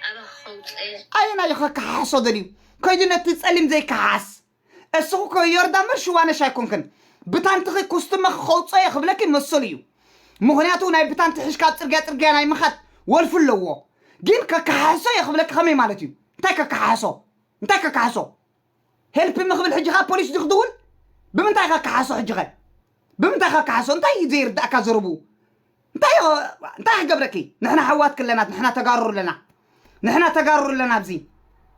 ኣበኻ ከውፅእ እየ። ኣየናይ እዩ ከከሓሕሶ ደልዩ ከይዱ ነቲ ጸሊም ዘይከሓስ እስኹ ከ ዮርዳ ምር ሽዋነሽ ኣይኮንክን ብታንትኺ ኩስትመኺ ከውጾ እየ ክብለኪ መሰሉ እዩ ምኽንያቱ ናይ ብታንቲ ሕሽካ ኣብ ጽርግያ ጽርግያ ናይ ምኻድ ወልፊ ኣለዎ ግን ከከሓሕሶ እየ ክብለኪ ከመይ ማለት እዩ እንታይ ከከሓሕሶ እንታይ ከከሓሕሶ ሄልፕ ሚ ክብል ሕጂ ከኣ ፖሊስ ድዩ ክድውል ብምንታይ ኢካ ክሓሶ ሕጂ ከ ብምንታይ ኢካ ክሓሶ እንታይ ኢዩ ዘይርዳኣካ ዘረብኡ እንታይ ኢዩ እንታይ ክገብረኪ ንሕና ኣሕዋትኪ ኣለና ንሕና ተጋሩ ኣለና ንሕና ተጋሩ ኣለና ኣብዚ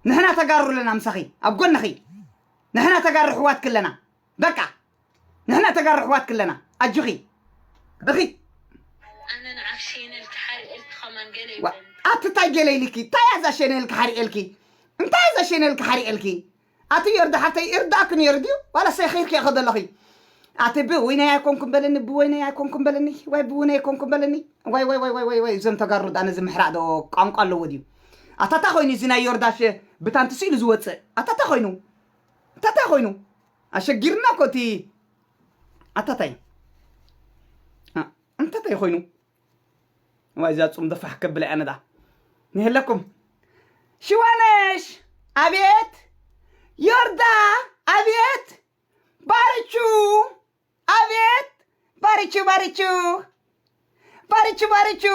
ንሕና ተጋሩ ኣለና ምሳኺ ኣብ ጎንኺ ንሕና ተጋሩ ኣሕዋትኪ ኣለና በቃ ንሕና ተጋሩ ኣሕዋትኪ ኣለና ኣጆኺ እኺ። ኣነ ንዓኽ ሼነል ክሓርየልኪ ከማን ገለ ይብለኒ። ኣቲ ታይ ገለ ኢልኪ ታይ ኣዛ ሸነል ክሓርየልኪ እንታይ ኣዛ ሸነል ክሓርየልኪ ኣቲ ዮርዲ ሓፍተይ ይርዳኣኪ ነይሩ ድዩ ዋላ ሰኺርኪ ኢኺ ዘለኺ ኣቲ ብ ወይነይ ኣይኮንኩም በለኒ ብ ወይነይ ኣይኮንኩም በለኒ ዋይ ብ ውነይ ኣይኮንኩም በለኒ ዋይ ዋይ ዋይ ዋይ ዋይ እዞም ተጋሩ ዳኣ ነዚ ምሕራቅ ዶ ቋንቋ ኣለዎ ድዩ ኣታ ታይ ኮይኑ እዚ ናይ ዮርዳሽ ብታንቲ ስኢሉ ዝወጽእ ኣታ ታይ ኮይኑ ኣታ ታይ ኮይኑ ኣሸጊርና እኮ እቲ ኣታ ታይ ኣንታ ታይ ኮይኑ እዋይ እዛ ጹም ፋሕ ከብላ እያ ነዳ ንሄለኩም ሽዋነሽ ኣቤት ዮርዳ ኣቤት ባርቹ ኣቤት ባርቹ ባርቹ ባርቹ ባርቹ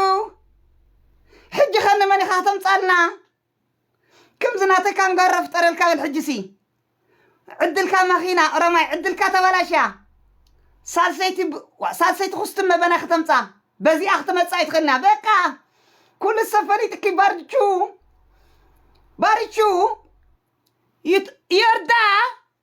ሕጂ ከ ንመን ኢኻ ተምጻልና ክምዚ ናተይ ካንጋሮ ፍጠረልካ በል ሕጂሲ ዕድልካ ማኺና ኦሮማይ ዕድልካ ተባላሽያ ሳልሰይቲ ሳልሰይቲ ኩስትመ በና ከተምጻ በዚኣ ክትመጻ ይትኽእልና በቃ ኩሉ ሰብ ፈሊጥኪ ባርቹ ባርቹ ይርዳ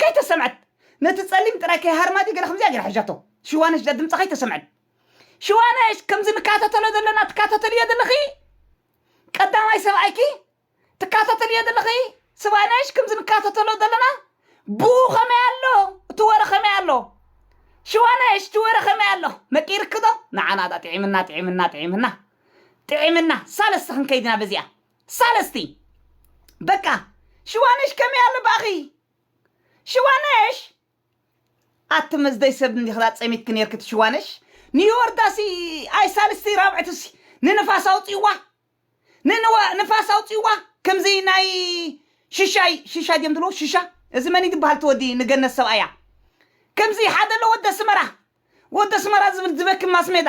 ከይተሰምዐት ነቲ ጸሊም ጥራይ ከይሃርማ ድዩ ገለ ከምዚኣ ጌራ ሒዛቶ ሽዋነሽ እዛ ድምጻ ከይተሰምዐት ሽዋነሽ ከምዚ ንካታተሎ ዘለና ትካታተልዮ ዘለኺ ቀዳማይ ሰብኣይኪ ትካታተልዮ ዘለኺ ስባነሽ ከምዚ ንካታተሎ ዘለና ብኡ ከመይ ኣሎ እቲ ወረ ከመይ ኣሎ ሽዋነሽ እቲ ወረ ከመይ ኣሎ መቂርክዶ ንዓና ዳ ጥዒምና ጥዒምና ጥዒምና ጥዒምና ሳለስተ ክንከይድና በዚኣ ሳለስቲ በቃ ሽዋነሽ ከመይ ኣሎ ባኣኺ ሽዋነሽ ኣቲ መዝደይ ሰብ እንዲኺ ኣጸሚትኪ ኔርኪ እቲ ሽዋነሽ ንዮርዳሲ ኣይ ሳልስቲ ራብዕቲሲ ንንፋስ ኣውጽዋ ንንዋ ንፋስ ኣውጽዋ ከምዚ ናይ ሽሻይ ሽሻ ድዮም ዝብልዎ ሽሻ እዚ መን እዩ ዝበሃል እቲ ወዲ ንገነት ሰብኣያ ከምዚ ሓደ ኣሎ ወዲ ኣስመራ ወዲ ኣስመራ ዝብል ዝበኪ ማስሜዳ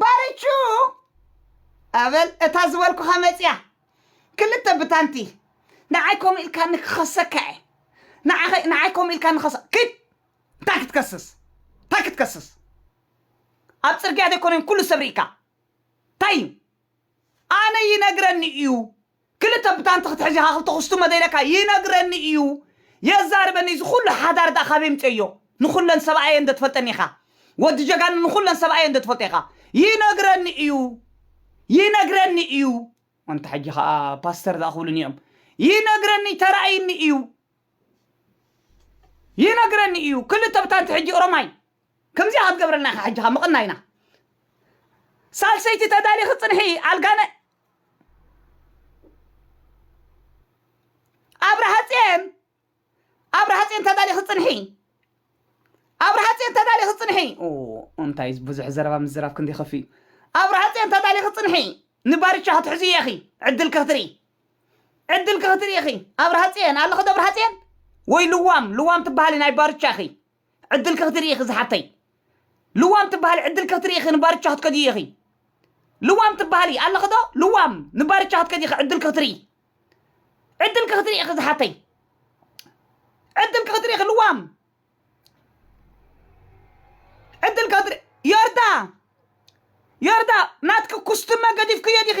ባርቹ ኣበል እታ ዝበልኩኻ መጺኣ ክልተ ብታንቲ ንዓይ ከምኡ ኢልካኒ ክኸሰካ እየ ንዓኸ ንዓይ ከምኡ ኢልካኒ ከሰ ክድ እንታይ ክትከስስ እንታይ ክትከስስ ኣብ ጽርግያ ዘይኮነን ኩሉ ሰብ ርኢካ እንታይ እዩ ኣነ ይነግረኒ እዩ ክልተ ብታንቲ ክትሕዝ ኢኻ ክልተ ኩስትሞ ዘይለካ ይነግረኒ ኢዩ የዛርበኒ እዚ ኩሉ ሓዳር ድኣ ካበይ ኣምጼዮ ንኩለን ሰብኣየን እንዶ ትፈልጠን ኢኻ ወዲ ጀጋኑ ንኩለን ሰብኣየን እንዶ ትፈልጦ ኢኻ ይነግረኒ ኢዩ ይነግረኒ ኢዩ ኣንታ ሕጂ ከኣ ፓስተር ድኣ ክብሉኒ ኢዮም ይነግረኒ ተራእይኒ ኢዩ ይነግረኒ ኢዩ ክልተ ብታንቲ ሕጂ ኦሮማይ ከምዚኣ ክትገብረልና ኢኻ ሕጂ ከኣ ምቕናይና ሳልሰይቲ ተዳሊኺ ጽንሒ ኣልጋነ ኣብርሃፅዮን ኣብርሃፅዮን ተዳሊኺ ፅንሒ ኣብርሃፅዮን ተዳሊኺ ፅንሒ እንታይ ብዙሕ ዘረባ ምዝራብ ክንዲ ከፍ እዩ ኣብርሃፅዮን ተዳሊኺ ፅንሒ ንባርቻ ክትሕዙ ኢኺ ዕድል ክትርኢ ዕድል ክትርኢ ኢኺ ኣብርሃፅዮን ኣለኸ ዶ ኣብርሃፅዮን ወይ ልዋም ልዋም ትበሃሊ ናይ ባርቻ ኢኺ ዕድልኪ ክትርኢ ኢኺ ዝሓብተይ ልዋም ትበሃሊ ዕድልኪ ክትርኢ ኢኺ ንባርቻ ክትከድዪ ኢኺ ልዋም ትበሃሊ ኣለኺ ዶ ልዋም ንባርቻ ክትከድዪ ኢኺ ዕድልኪ ክትርኢ ዕድልኪ ክትርኢ ኢኺ ዝሓተይ ዕድልኪ ክትርኢ ኢኺ ልዋም ዕድልኪ ክትርኢ ዮርዳ ዮርዳ ናትኪ ኩስትመ ገዲፍክዮ ዲኺ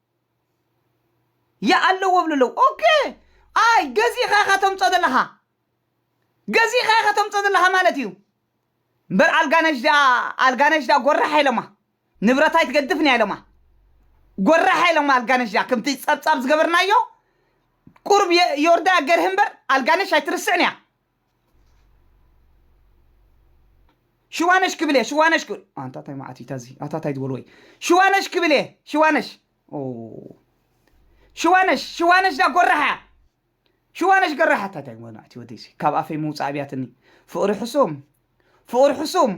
ይኣለዎ ይብሉ ኣለዉ ኦኬ ኣይ ገዚእኻ ኢኻ ተምፅኦ ዘለኻ ገዚእኻ ኢኻ ተምፅኦ ዘለኻ ማለት እዩ እምበር ኣልጋነሽ ድኣ ኣልጋነሽ ድኣ ጎራሕ ኢሎማ ንብረት ኣይትገድፍን እያ ኢሎማ ጎራሕ ኢሎማ ኣልጋነሽ ድኣ ከምቲ ፀብፃብ ዝገበርናዮ ቁርብ የ- ዮርዳ ገርህ እምበር ኣልጋነሽ ኣይትርስዕን እያ ሽዋነሽ ክብል እየ ሽዋነሽ ክብል ኣንታ እንታይ መዓት እዩ ታዚ ኣታ እንታይ ዝበል ወይ ሽዋነሽ ክብል እየ ሽዋነሽ ኦ ሽዋነሽ ሽዋነሽ ዳ ጎራሓ እያ ሽዋነሽ ገራሓ እንታይ እንታይ መናዕ እቲ ወደይሲ ካብ ኣፈይ ምውፃእ ኣብያትኒ ፍቕሪ ሕሱም ፍቕሪ ሕሱም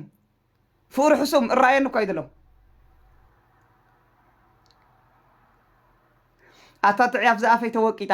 ፍቕሪ ሕሱም እራየኒ እኳ ይደሎ ኣታ ጥዕያፍ ዝኣፈይ ተወቂጣ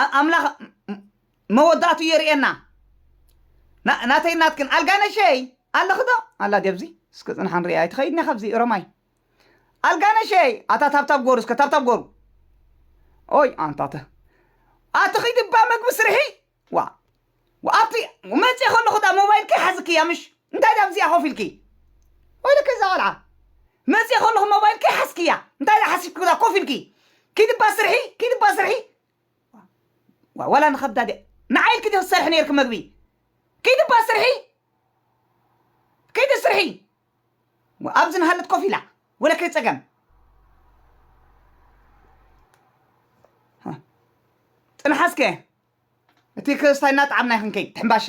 ኣ- ኣምላኽ ም- መወዳእቱ የርእየና ና- ናተይ ናትክን ኣልጋነሸይ ኣለኺ ዶ ኣላ ዲኣብዚ እስከ ፅንሓ ንሪኣ ኣይትኸይድኒ ካብዚ ኦሮማይ ኣልጋነሸይ ኣታ ታብታብ ጎሩ እስከ ታብታብ ጎሩ ኦይ ኣንታተ ኣቲ ኺዲ እባ መግቢ ስርሒ ዋእ ኣብቲ መፅየ ከለኹ እታ ሞባይል ከይሓዝክያ ምሽ እንታይ ድኣ ኣብዚኣ ኮፍ ኢልኪ ወይለከ እዛ ቆልዓ መፅየ ከለኹ ሞባይል ከይሓዝክያ እንታይ ድኣ ሓሲብኪ ብዛ ኮፍ ኢልኪ ኪዲ እባ ስርሒ ኪዲ እባ ስርሒ ዋ- ዋላ ንኸብዳ ድያ ንዓይ ኢልኪ ዶ ትሰርሒ ነይርኪ መግቢ ኪዲ እባ ስርሒ ኪዲ ስርሒ ዋ፣ ኣብዚ ንሃለት ኮፍ ኢላ ወለከ ፀገም ጥንሓስከ እቲ ክስታይ እናጠዓምና ክንከይድ ሕምባሻ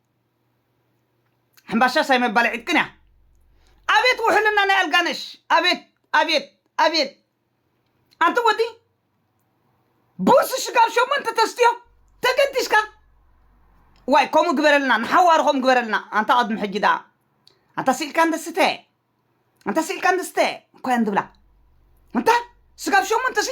ሕምባሻ ሻይ መባልዒት ግን እያ። ኣቤት ውሕልና ናይ ኣልጋነሽ ኣቤት ኣቤት ኣቤት ኣንቲ ወዲ ቡርሲ ሽጋብ ሸሞንተ ተስትዮ ተገዲስካ ዋይ ከምኡ ግበረልና ንሓዋሩ ከምኡ ግበረልና ኣንታ ቅድሚ ሕጂ ደኣ ኣንታ ስኢልካ እንደስተ ኣንታ ስኢልካ እንደስተ እኳ እንድብላ እንታ ስጋብ ሸሞንተ ሲ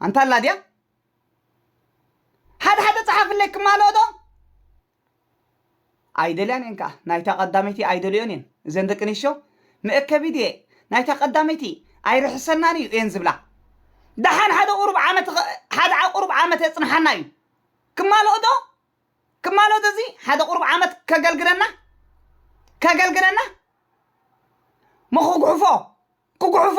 ኣንታ ኣላ ድያ ሓደ ሓደ ፀሓፍለይ ክማልኦ ዶ ኣይደልያን እየን ከዓ ናይታ ቀዳመይቲ ኣይደልዮን እየን እዘን ደቂ ኣንስትዮ መእከቢ ድየ ናይታ ቀዳመይቲ ኣይርሕሰናን እዩ እየን ዝብላ ደሓን ሓደ ቁሩብ ዓመት ኸ- ሓደ ዓ- ቁሩብ ዓመት የፅንሓና እዩ ክማልኦ ዶ ክማልኦ ዶ እዚ ሓደ ቁሩብ ዓመት ከገልግለና ከገልግለና መኹጉሕፎ ኩጉሕፎ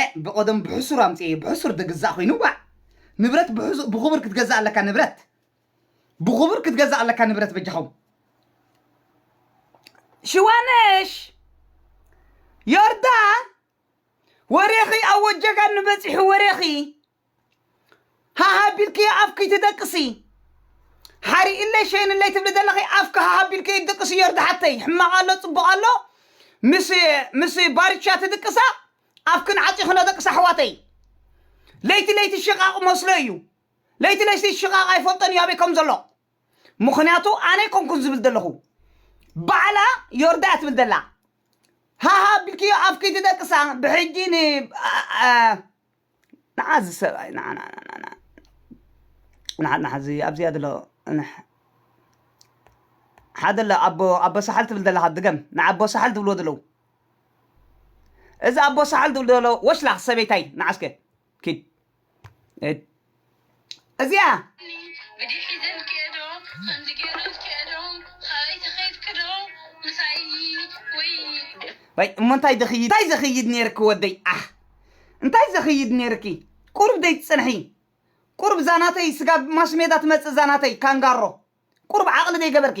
ኤእ ብቀደሙ ብሕሱር ኣምጺኤዮ ብሕሱር ድግዛእ ኮይኑ ዋእ ንብረት ብሕሱር ብኩቡር ክትገዛእ ኣለካ ንብረት ብኩቡር ክትገዛእ ኣለካ ንብረት በጃኹም ሽዋነሽ ዮርዳ ወሬኺ ኣብ ወጀጋኑ በጺሑ ወሬኺ ሃህ ኣቢልክዮ ኣፍኪ ትደቅሲ ሓሪእለይ ሸይንለይ ትብሊ ዘለኺ ኣፍኪ ሃህ ኣቢልክዮ ትደቅሲ ዮርዲ ሓተይ ሕማቕ ኣሎ ጽቡቕ ኣሎ ምስ ምስ ባርቻ ትድቅሳ ኣፍክን ዓጺኽኖ ደቅሳ ኣሕዋተይ ለይቲ ለይቲ ሽቓቕ መስሎ እዩ ለይቲ ለይቲ ሽቓቕ ኣይፈልጦን እዩ ኣበይ ከም ዘሎ ምክንያቱ ኣነ ኣይኮንኩን ዝብል ዘለኹ ባዕላ ዮርዳ እያ ትብል ዘላ ሃሃ ቢልክዮ ኣፍኪ ትደቅሳ ብሕጂ ን ኣ- ኣ- ንዓ እዚ ሰብኣይ ንዓ ንዓ ንዓ ንዓ እዚ ኣብዚኣ ዘሎ እንሕ ሓደ ኣሎ ኣቦ ኣቦ ሳሕል ትብል ዘለኻ ድገም ንኣቦ ሳሕል ዝብልዎ ዘለዉ እዚ ኣቦ ሳሕል ዝብሉ ዘሎ ወሽላኽ ሰበይታይ ንዓ እስከ ኪድ እድ እዚኣ ብዲ ሒዘን ክየዶ ከምዚ ገይሩ ዝክየዶ ካበይ ተከይድክዶ ምሳይ ወይ ወይ እሞ እንታይ ዘኽይድ እንታይ ዘኽይድ ነይርኪ ወደይ ዓሕ እንታይ ዘኽይድ ነይርኪ ቁሩብ ደይ ትጽንሒ ቁሩብ ዛናተይ ስጋብ ማሽሜዳ ትመጽእ ዛናተይ ካንጋሮ ቁሩብ ዓቕሊ ደይ ገበርኪ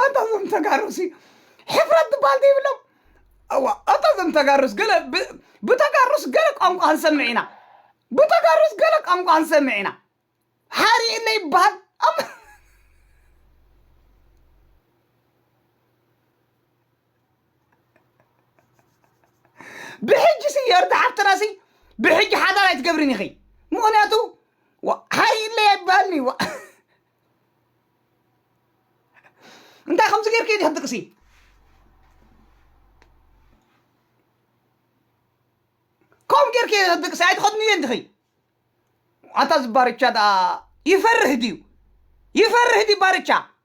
ኣንታ እዞም ተጋሩ ሲ ሕፍረት ትበሃል ዘይብሎም እዋ ኣታ እዞም ተጋሩስ ገለ ብ- ብተጋሩስ ገለ ቋንቋ ክንሰምዕ ኢና ብተጋሩስ ገለ ቋንቋ ክንሰምዕ ኢና ሓሪእለ ይበሃል ኣም- ብሕጂ ሲ የርታ ሓፍትና ሲ ብሕጂ ሓዳር ኣይትገብርን ኢኺ ምክንያቱ ዋ- ሃይለ ኣይበሃልን እዩ ዋ- እንታይ ከምዚ ጌርኪ ዲኺ ጥቅሲ ከምኡ ጌርኪ ጥቅሲ ኣይትኸድኑ እየ እንዲኺ ኣታ ዝባርቻ ደኣ ይፈርህ ድዩ ይፈርህ ድዩ ባርቻ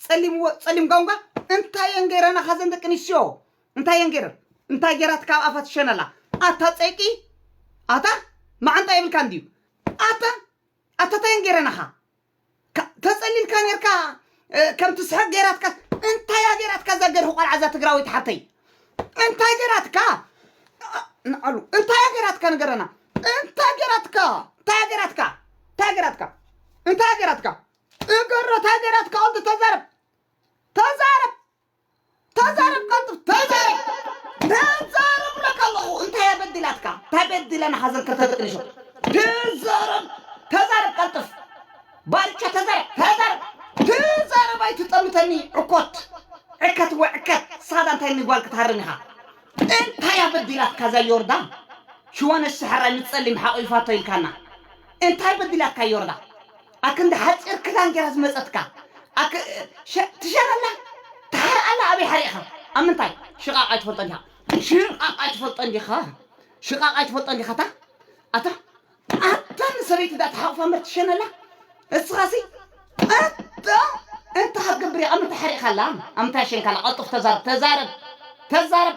ጸሊም ወ ጸሊም ጋውንጋ እንታይ እየን ገይረናኻ ዘን ደቂ ኣንስትዮ እንታይ እየን ገይረን እንታይ ገይራት ካብ ኣፋ ትሸነላ ኣታ ጸይቂ ኣታ መዓንጣ የብልካ እንድዩ ኣታ ኣታ እንታይ እየን ገይረናኻ ካ- ተጸሊልካ ነርካ እ፣ ከም ትስሕቅ ገይራትካ እንታይ እያ ገይራትካ እዛ ገርሂ ቆልዓ እዛ ትግራወይቲ ሓፍተይ እንታይ ገይራትካ ንዓሉ እንታይ እያ ገይራትካ ንገረና እንታይ ገይራትካ እንታይ ገይራትካ እንታይ ገይራትካ እንታይ ገይራትካ ጥገሮ ታገራት ካኦንት ተዛረብ ተዛረብ ተዛረብ ቀልጥፍ ተዛረብ ተዛረብ ብለካ ኣለኹ እንታይ እያ በዲላትካ እንታይ በዲለ ንሓዘን ክልተ ደቂ ኣንስትዮ ተዛረብ ተዛረብ ቀልጥፍ ባርቾ ተዛረብ ተዛረብ ተዛረብ ኣይትጠምተኒ ዕኮት ዕከት ወይ ዕከት ሳዳ እንታይ ንጓል ክትሃርም ኢኻ እንታይ እያ በዲላትካ እዛ ዮርዳ ሽወነሽ ሰሐራይ ምስ ጸሊም ሓቚፋቶ ኢልካና እንታይ በዲላትካ ዮርዳ ኣክንዲ ሓጺር ክዳን ጌራ ዝመጸትካ ኣክ ሸ ትሸር ኣላ ትሓርቅ ኣላ ኣበይ ሓሪቅካ ኣብ ምንታይ ሽቃቅ ኣይትፈልጦን ዲካ ሽቃቅ ኣይትፈልጦን ዲካ ሽቃቅ ኣይትፈልጦን ዲካ ኣታ ኣታ ኣታ ንሰበይቲ ዳ ተሓቁፋ እምበር ትሸን ኣላ እስኻሲ ኣታ እንታይ ክትገብር ኢኻ ኣብ ምንታይ ሓሪቅካ ኣላ ኣብ ምንታይ ኣሸንካ ኣላ ቀልጡፍ ተዛረብ ተዛረብ ተዛረብ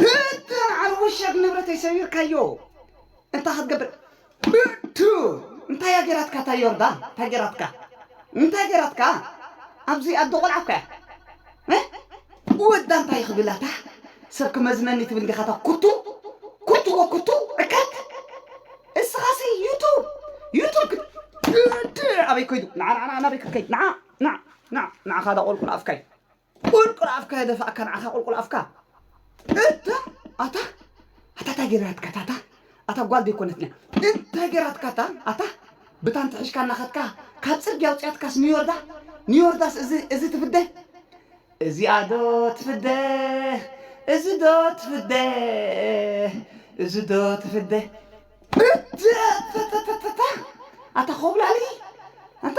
ብድር ዓርቡሸግ ንብረተይ ሰቢርካዮ እንታይ ክትገብር ብድር እንታይ እያ ጌራትካ እታ ዮርዳ እንታይ ጌራትካ እንታይ ጌራትካ ኣብዚ ኣደ ቆልዓ እኮ እያ ወዳ እንታይ ክብል ኣታ ሰብ ክመዝነኒ ትብል እንዲኻ እታ ኩቱ ኩቱ ወኩቱ ዕከት እስኻሲ ዩቱብ ዩቱብ ክት ብድር ኣበይ ኮይዱ ንዓ ንዓ ንዓ ናበይ ክትከይድ ንዓ ንዓ ንዓ ንዓኻ ዳቆልቁል ኣፍካይ ቁልቁል ኣፍካ የደፋእካ ንዓኻ ቁልቁል ኣፍካ እታ ኣታ ኣታ እንታይ ገይራትካ ታታ ኣታ ጓል ዘይኮነትኛ እንታይ ገይራትካ እታ ኣታ ብታን ትሕሽካ እናኸትካ ካብ ፅርግያ ውፅያትካስ ንዮርዳ ንዮርዳስ እዚ እዚ ትፍደ እዚኣ ዶ ትፍደ እዚ ዶ ትፍደ እዚ ዶ ትፍደ እታ ኣታ ኮብላሊ ኣታ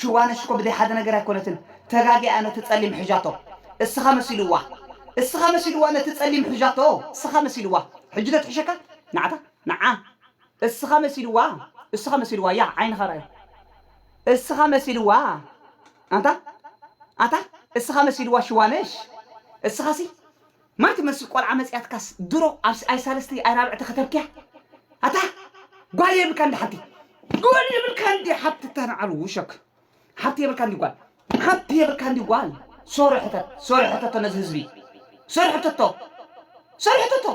ሽዋነሽ እኮ ብዘይ ሓደ ነገር ኣይኮነትን ተጋጊኣ ነቲ ጸሊም ሕዣቶ እስኻ መሲልዋ እስኻ መሲልዋ ነቲ ጸሊም ሕዣቶ እስኻ መሲልዋ ሕጂ ዶ ትሕሸካ ንዓታ ንዓ እስኻ መሲልዋ እስኻ መሲልዋ ያዕ ዓይንኻ ራኣዮ እስኻ መሲልዋ ኣንታ ኣታ እስኻ መሲልዋ ሽዋነሽ እስኻሲ ማይ ትመስል ቆልዓ መጺኣትካስ ድሮ ኣብ ኣይ ሳልስቲ ኣይ ራብዕቲ ከተርክያ ኣታ ጓል የብልካ እንዲ ሓንቲ ጓል የብልካ እንዲ ሓብቲ ተናዓሉ ውሸክ ሓብቲ የብልካ እንዲ ጓል ሓብቲ የብልካ እንዲ ጓል ሶሪ ሕተት ሶሪ ሕተቶ ነዚ ህዝቢ ሶሪ ሕተቶ ሶሪ ሕተቶ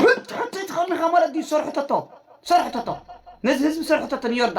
ሕቶ ሕቶ ትኸምኻ ማለት ድዩ ሶሪ ሕተቶ ሶሪ ሕተቶ ነዚ ህዝቢ ሶሪ ሕተቶ ንዮርዳ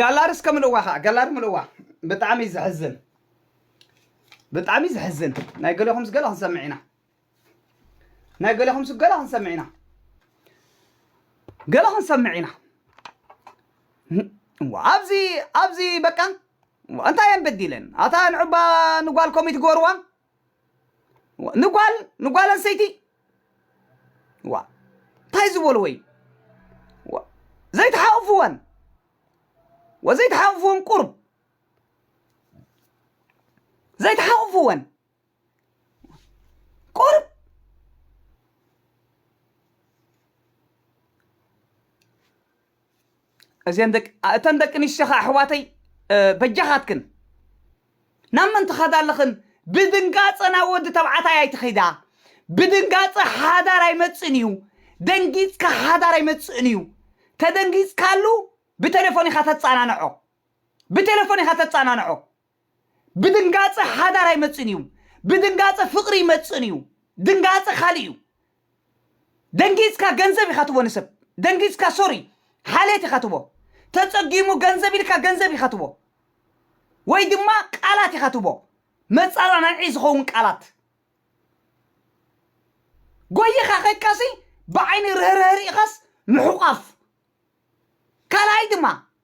ጋላሪ እስከ ምልዋ ከዓ ጋላሪ ምልዋ ብጣዕሚ እዩ ዘሕዝን ብጣዕሚ እዩ ዘሕዝን ናይ ገለኹም ስገለ ክንሰምዕ ኢና ናይ ገለኹም ስገለ ክንሰምዕ ኢና ገለ ክንሰምዕ ኢና ኣብዚ ኣብዚ በቃ እንታይ እየን በዲለን ኣታ ንዑባ ንጓል ኮሚት ገበርዋ ንጓል ንጓል ኣንስተይቲ ዋ እንታይ ዝበልዎ እዩ ዋ ዘይተሓቑፍወን ወዘይተሓቑፍወን ቁርብ ዘይተሓቑፍወን ቁርብ እዘን ደቂ እተን ደቂ ኣንስትዮ ከዓ ኣሕዋተይ በጃኻትክን ናብ መን ትኸዳ ኣለኽን ብድንጋፀ ናብ ወዲ ተባዕታይ ኣይትኸዳ ብድንጋፀ ሓዳር ኣይመፅእን እዩ ደንጊፅካ ሓዳር ኣይመፅእን እዩ ተደንጊፅካሉ ብቴሌፎን ኢኻ ተፃናንዖ ብቴሌፎን ኢኻ ተፃናንዖ ብድንጋጸ ሓዳር ኣይመጽእን እዩ ብድንጋጸ ፍቅሪ ይመጽእን እዩ ድንጋጸ ካልእ እዩ ደንጊጽካ ገንዘብ ኢካ ትቦ ንሰብ ደንጊጽካ ሶሪ ሓልየት ኢካ ትቦ ተጸጊሙ ገንዘብ ኢልካ ገንዘብ ኢካ ትቦ ወይ ድማ ቃላት ኢካ ትቦ መጻናናዒ ዝኸውን ቃላት ጎይኻ ከይካሲ ብዓይኒ ርህርህ ርኢኻስ ምሕቋፍ ካልኣይ ድማ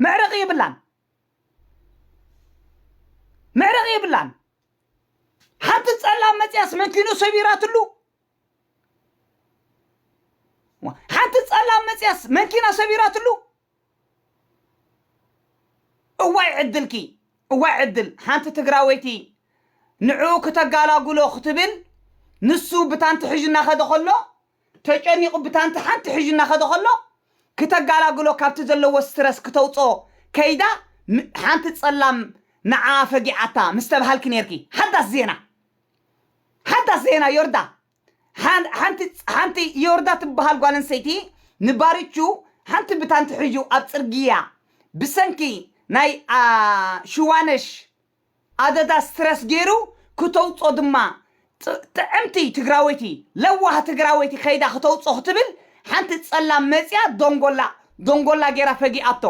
መዕረቂ የብላን መዕረቂ የብላን ሓንቲ ጸላም መጽያስ መኪኑ ሰቢራትሉ ሓንቲ ጸላም መጽያስ መኪና ሰቢራትሉ እዋይ ዕድልኪ እዋይ ዕድል ሓንቲ ትግራወይቲ ንዕኡ ክተጋላጉሎ ክትብል ንሱ ብታንቲ ሕዥና ከደ ከሎ ተጨኒቑ ብታንቲ ሓንቲ ሕዡ እናኸደ ከሎ ክተጋላግሎ ካብቲ ዘለዎ ስትረስ ክተውጽኦ ከይዳ ሓንቲ ጸላም ንዓኣ ፈጊዓታ ምስ ተባሃልኪ ኔርኪ ሓዳስ ዜና ሓዳስ ዜና ዮርዳ ሓንቲ ሓንቲ ዮርዳ ትበሃል ጓል ኣንስተይቲ ንባርቹ ሓንቲ ብታንቲ ሕዡ ኣብ ጽርግያ ብሰንኪ ናይ ሽዋነሽ ኣደዳ ስትረስ ጌሩ ክተውጾ ድማ ጥዕምቲ ትግራወይቲ ለዋህ ትግራወይቲ ከይዳ ክተውጾ ክትብል ሓንቲ ጸላም መጽያ ዶንጎላ ዶንጎላ ጌራ ፈጊኣቶ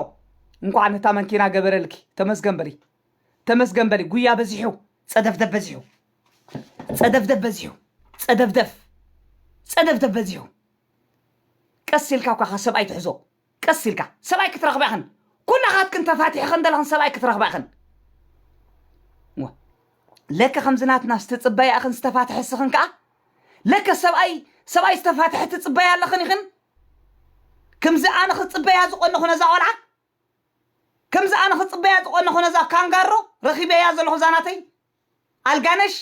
እንኳዕ ነታ መንኪና ገበረልኪ ተመስገን በሊ ተመስገን በሊ ጉያ በዚሑ ጸደፍደፍ በዚሑ ጸደፍደፍ በዚሑ ጸደፍደፍ ጸደፍደፍ በዚሑ ቀስ ኢልካ እኳ ካብ ሰብኣይ ትሕዞ ቀስ ኢልካ ሰብኣይ ክትረኽባ ኢኽን ኩላኻትክን ተፋቲሕኽን ዘለኽን ሰብኣይ ክትረኽባ ኢኽን እወ ለከ ከምዚ ናትናስ ትፅበያ ኢኽን ዝተፋትሐ እስኽን ከዓ ለከ ሰብኣይ ሰብኣይ ዝተፋትሐ ትፅበያ ኣለኽን ኢኽን ከምዚ ኣነ ክፅበያ ዝቆነኹ ነዛ ቆልዓ ከምዚ ኣነ ክፅበያ ዝቆነኹ ነዛ ካንጋሮ ረኺበያ ዘለኹ እዛ ናተይ ኣልጋነሽ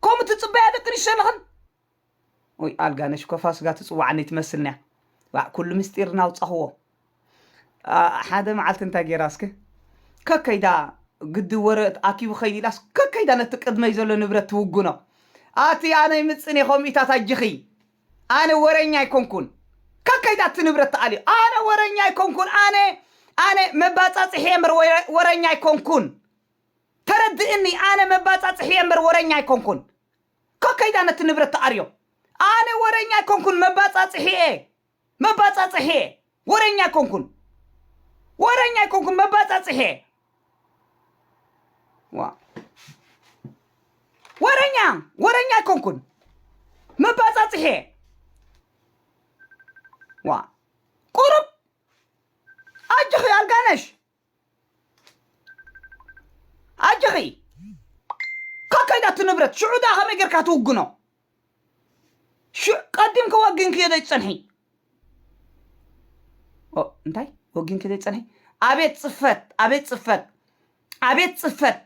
ከምኡ ትጽበያ ደቂ ኣንስትዮ ኣለኽን ወይ ኣልጋነሽ እኮ ፋስጋ ትጽዋዓኒ ትመስልንያ ዋእ ኩሉ ምስጢር ናውጻኽዎ ኣ፣ ሓደ መዓልቲ እንታይ ገይራ እስከ ከከይዳ ግዲ ወረ ኣኪቡ ከይድ ኢላስ ከከይዳ ነቲ ቅድመይ ዘሎ ንብረት ትውግኖ ኣቲ ኣነ ይምጽን እየ ከምኢታት ኣጅኺ ኣነ ወረኛ ኣይኮንኩን ከከይዳ እቲ ንብረት ትኣልዮ ኣነ ወረኛ ኣይኮንኩን ኣነ ኣነ መባጻጽሒ እየ እምበር ወረ- ወረኛ ኣይኮንኩን ተረድእኒ ኣነ መባጻጽሒ እየ እምበር ወረኛ ኣይኮንኩን እኮ ከይዳ ነቲ ንብረት ትኣርዮ ኣነ ወረኛ ኣይኮንኩን መባጻጽሒ እየ መባጻጽሒ እየ ወረኛ ኣይኮንኩን ወረኛ ኣይኮንኩን መባጻጽሒ እየ ዋ ወረኛ ወረኛ ኣይኮንኩን መባጻጽሒ እየ ዋ ቁሩብ ኣጆኺ ኣልጋነሽ ኣጆኺ ከከይዳቲ ንብረት ሽዑ ድኣ ከመይ ጌርካ ትውግኖ ሽዑ ቀዲምኪ ወጊንኪ ዘይትጸንሒ ኦ፣ እንታይ ወጊንኪ ዘይትጸንሒ ኣቤት ጽፈት ኣቤት ጽፈት ኣቤት ጽፈት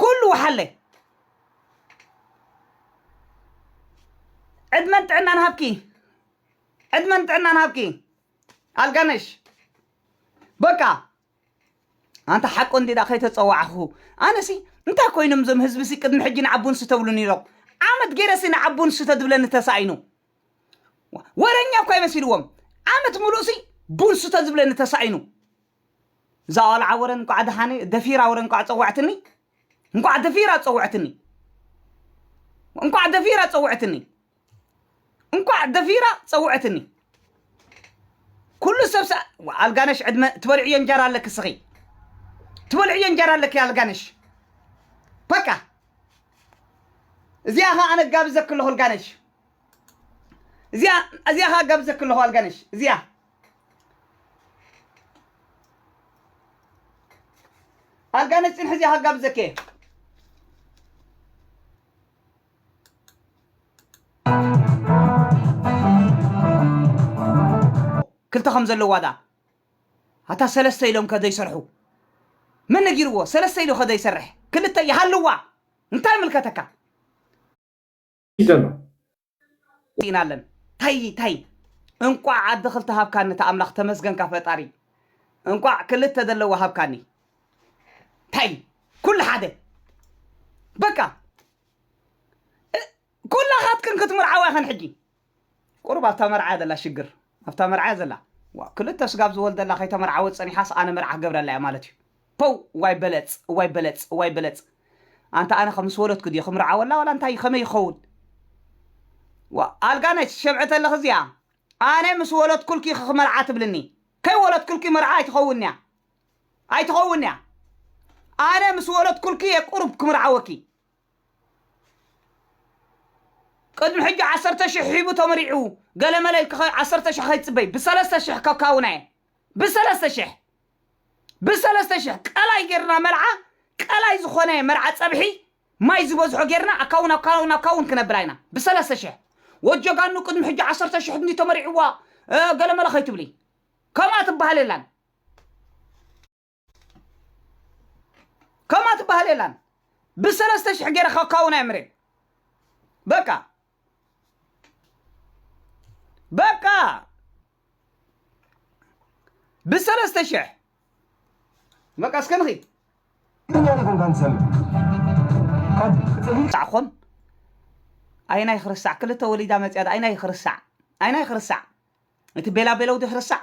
ኩሉ ወሓለ ዕድመን ጥዕናን ሃብኪ ዕድመን ጥዕናን ሃብኪ ኣልጋነሽ በቃ ኣንታ ሓቁ እንዲ ዳ ከይተፀዋዕኹ ኣነሲ እንታይ ኮይኖም እዞም ህዝቢ ሲ ቅድሚ ሕጂ ንዓቡ ንሱ ተብሉ ነይሮም ዓመት ገይረ ሲ ንዓቡ ንሱ ተድብለኒ ተሳኢኑ ወረኛ እኳ ይመሲልዎም ዓመት ሙሉእ ሲ ቡንሱ ተዝብለኒ ተሳኢኑ እዛ ቆልዓ ወረ እንቋዕ ደሓን ደፊራ ወረ እንቋዕ ጸውዐትኒ እንቋዕ ደፊራ ጸውዐትኒ እንቋዕ ደፊራ ጸውዐትኒ እንቋዕ ደፊራ ጸውዐትኒ ኩሉ ሰብ ሰ- ዋ፣ ኣልጋነሽ ዕድመ ትበልዕዮ እንጀራ ኣለኪ ስኺ ትበልዕዮ እንጀራ ኣለኪ ኣልጋነሽ በቃ እዚኣ ኸ ኣነ ጋብዘኪ ኣለኹ ኣልጋነሽ እዚኣ እዚኣ ኸ ጋብዘኪ ኣለኹ ኣልጋነሽ እዚኣ ኣልጋ ነፂን ሕዚ ሃጋብ ዘኬ ክልተ ከም ዘለዋ ድኣ ኣታ ሰለስተ ኢሎም ከ ዘይሰርሑ መን ነጊርዎ ሰለስተ ኢሉ ከ ዘይሰርሕ ክልተ ይሃልዋ እንታይ ምልከተካ ዘሎ ኢና ኣለን ታይ ታይ እንቋዕ ኣደ ክልተ ሃብካኒ እታ ኣምላኽ ተመስገንካ ፈጣሪ እንቋዕ ክልተ ዘለዎ ሃብካኒ ታይ ኩሉ ሓደ በቃ እ- ኩላኻትክን ክትምርዓዋ ይኸን ሕጂ ቁሩብ ኣብታ መርዓያ ዘላ ሽግር ኣብታ መርዓያ ዘላ ዋእ ክልተ ስጋብ ዝወልደላ ከይተመርዓወት ጸኒሓስ ኣነ መርዓ ክገብረላ እየ ማለት እዩ ፖው እዋይ በለጽ እዋይ በለጽ እዋይ በለጽ ኣንታ ኣነ ከ ምስ ወለድኩ ድየ ክምርዓወላ ዋላ እንታይ ከመይ ይከውን ዋእ ኣልጋ ነች ትሸብዒ ተለኺ እዚኣ ኣነ ምስ ወለድኩልኪ ኢኺ ክመርዓ ትብልኒ ከይወለድኩልኪ መርዓ ኣይትኸውን እያ ኣይትኸውን እያ ኣነ ምስ ወለድኩልኪ እየ ቁሩብ ክምርዓወኪ ቅድሚ ሕጂ ዓሰርተ ሽሕ ሒቡ ተመሪዑ ገለመለ ኢልካ ከ ዓሰርተ ሽሕ ከይትጽበይ ብሰለስተ ሽሕ ከካውና እየ ብሰለስተ ሽሕ ብሰለስተ ሽሕ ቀላይ ጌርና መልዓ ቀላይ ዝኾነ መርዓ ጸብሒ ማይ ዝበዝሖ ጌርና ኣካውን ኣካውን ኣካውን ክነብላ ኢና ብሰለስተ ሽሕ ወጀጋኑ ቅድሚ ሕጂ ዓሰርተ ሽሕ እንዲ ተመሪዕዋ እ፣ ገለመለ ከይትብሊ ከምኣ ትበሃል የላን ከምኣ ትበሃል የላን ብሰለስተ ሽሕ ገይረ ከካውና እየ ምሬ በቃ በቃ ብሰለስተ ሽሕ በቃ እስከ ንኺድ ሳዕኹም ኣይናይ ክርሳዕ ክልተ ወሊዳ መፅያ ዶ ኣይናይ ክርሳዕ ኣይናይ ክርሳዕ እቲ ቤላ ቤለው ዶ ክርሳዕ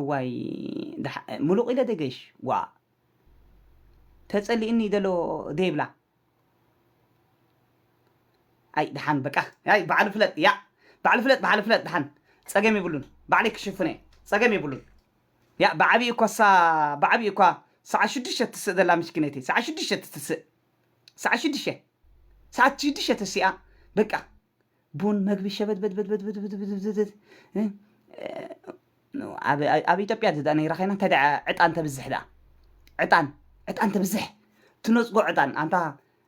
እዋይ ምሉቕ ኢለ ደገሽ ዋእ ተጸሊእኒ ደሎ ደይብላ ኣይ ድሓን በቃ ኣይ ባዕሉ ፍለጥ ያ ባዕሉ ፍለጥ ባዕሉ ፍለጥ ድሓን ጸገም የብሉን ባዕለይ ክሽፍነ እየ ጸገም የብሉን ያ ብዓብዪ እኳሳ ብዓብዪ እኳ ሰዓት ሽዱሽተ ትስእ ዘላ ምስኪነይቲ ሰዓት ሽዱሽተ ትስእ ሰዓት ሽዱሽተ ሰዓት ሽዱሽተ ተሲኣ በቃ ቡን መግቢ ሸበድበድበድበድበድበድበድበድ እ፣ እ፣ ኣብ ኣብ ኢትዮጵያ ድኣ ነይራ ኸይና እንታይ ድኣ ዕጣን ተብዝሕ ድኣ ዕጣን ዕጣን ተብዝሕ ትነጽጎ ዕጣን ኣንታ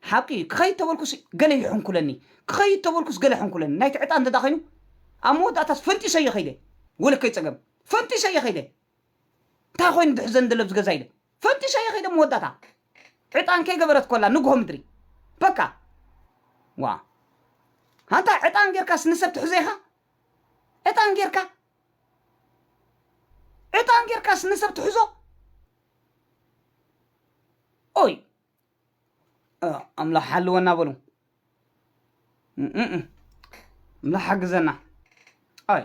ሓቂ እዩ ክኸይድ ተበልኩስ ገለ ይሕንኩለኒ ክኸይድ ተበልኩስ ገለ ሕንኩለኒ ናይቲ ዕጣን እንተድኣ ኸይኑ ኣብ መወዳእታስ ፈንጢሰዮ ኸይደ ወለከይ ጸገም ፈንጢሰዮ ኸይደ እንታይ ኮይኑ ድሕዘን ደለብ ዝገዛ ኢለ ፈንጢሻ'የ ከይደ መወዳእታ ዕጣን ከይገበረት ኮላ ንግሆ ምድሪ በቃ ዋእ ኣንታ ዕጣን ጌርካስ ንሰብ ትሕዞ ኢኻ ዕጣን ጌርካ ዕጣን ጌርካስ ንሰብ ትሕዞ ኦይ ኣምላኽ ሓልወና በሉ እም እም እም። ኣምላኽ ሓግዘና ኣይ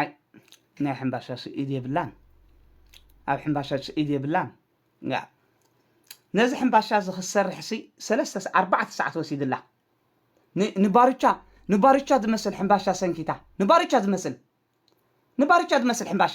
ኣይ ናይ ሕምባሻ ስኢድ የብላን ኣብ ሕምባሻ ስኢድ የብላን ያ ነዚ ሕምባሻ እዚ ክትሰርሕሲ ሰለስተ ኣርባዕተ ሰዓት ወሲድላ ንባርቻ ንባርቻ ዝመስል ሕምባሻ ሰንኪታ ንባርቻ ዝመስል ንባርቻ ዝመስል ሕምባሻ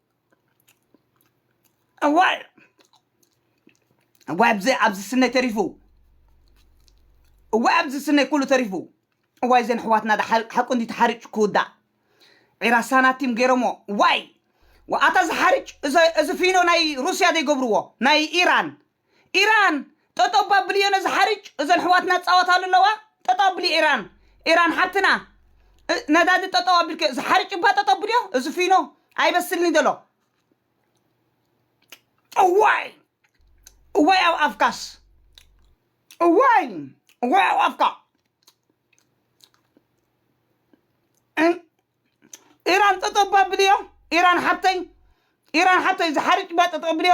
እዋይ እዋይ ኣብዚ ኣብዚ ስነይ ተሪፉ እዋይ ኣብዚ ስነይ ኩሉ ተሪፉ እዋይ ዘን ኣሕዋትና ዳ ሓ- ሓቁ እንዲ ተሓሪጭ ክውዳእ ዒራ ሳናቲም ገይሮሞ ዋይ ወኣታ ዝሓርጭ እዚ እዚ ፊኖ ናይ ሩስያ ዘይገብርዎ ናይ ኢራን ኢራን ጠጠው ባብልዮ ነዚ ሓርጭ እዘን ኣሕዋትና ዝፃወታሉ ኣለዋ ጠጠው ኣብልዮ ኢራን ኢራን ሓብትና እ- ነዳዲ ጠጠው ኣቢልክዮ እዚ ሓርጭ እባ ጠጠው ኣብልዮ እዚ ፊኖ ኣይበስልኒ ዘሎ እዋይ እዋይ ኣብ ኣፍካስ እዋይ እዋይ ኣብ ኣፍካ እን- ኢራን ጠጠው ባብልዮ ኢራን ሓብተይ ኢራን ሓብተይ እዚ ሓርጭ እባ ጠጠው ኣብልዮ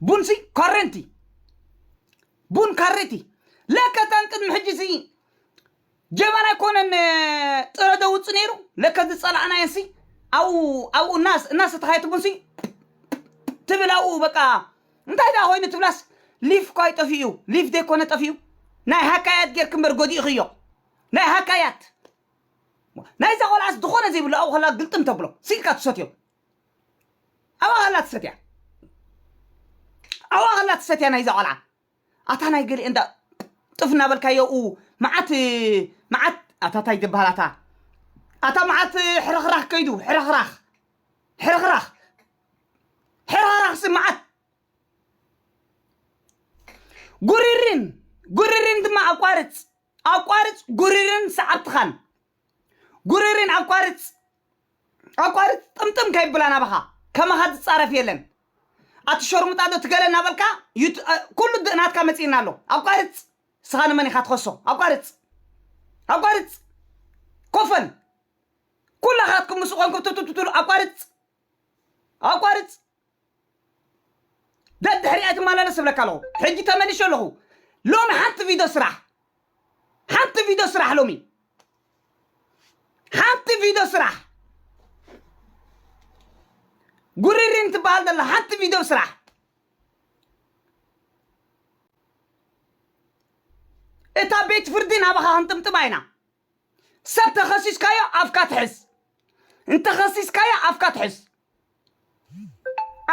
ቡንሲ ካሬንቲ ቡን ካሬቲ ለከ እታን ቅድሚ ሕጂ ሲ ጀበና ኣይኮነን እ፣ ጥረ ደውፅ ነይሩ ለከ ዝፀላእናየን ሲ ኣብኡ ኣብኡ እናስ እናሰተኻየት ቡንሲ ትብል ኣብኡ በቃ እንታይ ደኣ ኮይኑ ትብላስ ሊፍ እኳ ይጠፍኡ ሊፍ ዘይኮነ ጠፍኡ ናይ ሃካያት ጌርክ እምበር ጎዲእኽዮ ናይ ሃካያት ናይዛ ቆልዓስ ዝኾነ ዘይብሉ ኣብኡ ከላ ግልጥም ተብሎ ስኢልካ ትሰትዮ ኣባኻ ኣላ ትሰትያ ኣባኻ ኣላ ትሰትያ ናይዛ ቆልዓ ኣታ ናይ ገሊኤ እንዳ ጥፍ እናበልካ የኡ መዓት መዓት ኣታ ታይ ትበሃል ኣታ ኣታ መዓት ሕርኽራኽ ከይዱ ሕርኽራኽ ሕርኽራኽ ሕርኽራኽ ሲ መዓት ጉሪሪን ጉሪሪን ድማ ኣቋርፅ ኣቋርፅ ጉሪሪን ሰዓብትኻን ጉሪሪን ኣቋርፅ ኣቋርጽ ጥምጥም ከይብላ ናባኻ ከማኻ ዝጻረፍ የለን ኣቲ ሸርሙጣ ዶ ትገለ እናበልካ ዩቱ- እ፣ ኩሉ ድ- ናትካ መጺእና ኣሎ ኣቋርጽ ስኻ ንመን ኢኻ ትኸሶ ኣቋርጽ ኣቋርጽ ኮፈን ኩላኻትኩም ምስ ኾንኩም ቱቱቱቱሉ ኣቋርጽ ኣቋርጽ ደድሕሪ ኣይትመላለስ እብለካ ኣለኹ ሕጂ ተመሊሸ ኣለኹ ሎሚ ሓንቲ ቪድዮ ስራሕ ሓንቲ ቪድዮ ስራሕ ሎሚ ሓንቲ ቪድዮ ስራሕ ጉሪሪን ትበሃል ዘላ ሓንቲ ቪድዮ ስራሕ እታ ቤት ፍርዲ ናባኻ ክንጥምጥማ ኢና ሰብ ተኸሲስካዮ ኣፍካ ትሕዝ እንተኸሲስካዮ ኣፍካ ትሕዝ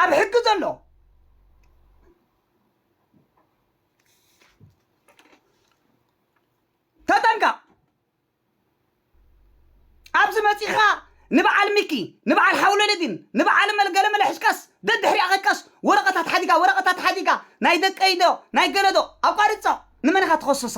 ኣብ ሕጊ ዘሎ ተጠንቀቕ ኣብዚ መፂኻ ንበዓል ሚኪ ንበዓል ሓውለለዲን ንበዓል መልገለመለ ሕዝቀስ ደድሕሪኣ ከይካስ ወረቐታት ሓዲጋ ወረቐታት ሓዲጋ ናይ ደቀይዶ ናይ ገለዶ ኣቋርፆ ንመን ኢኻ ትኸስሳ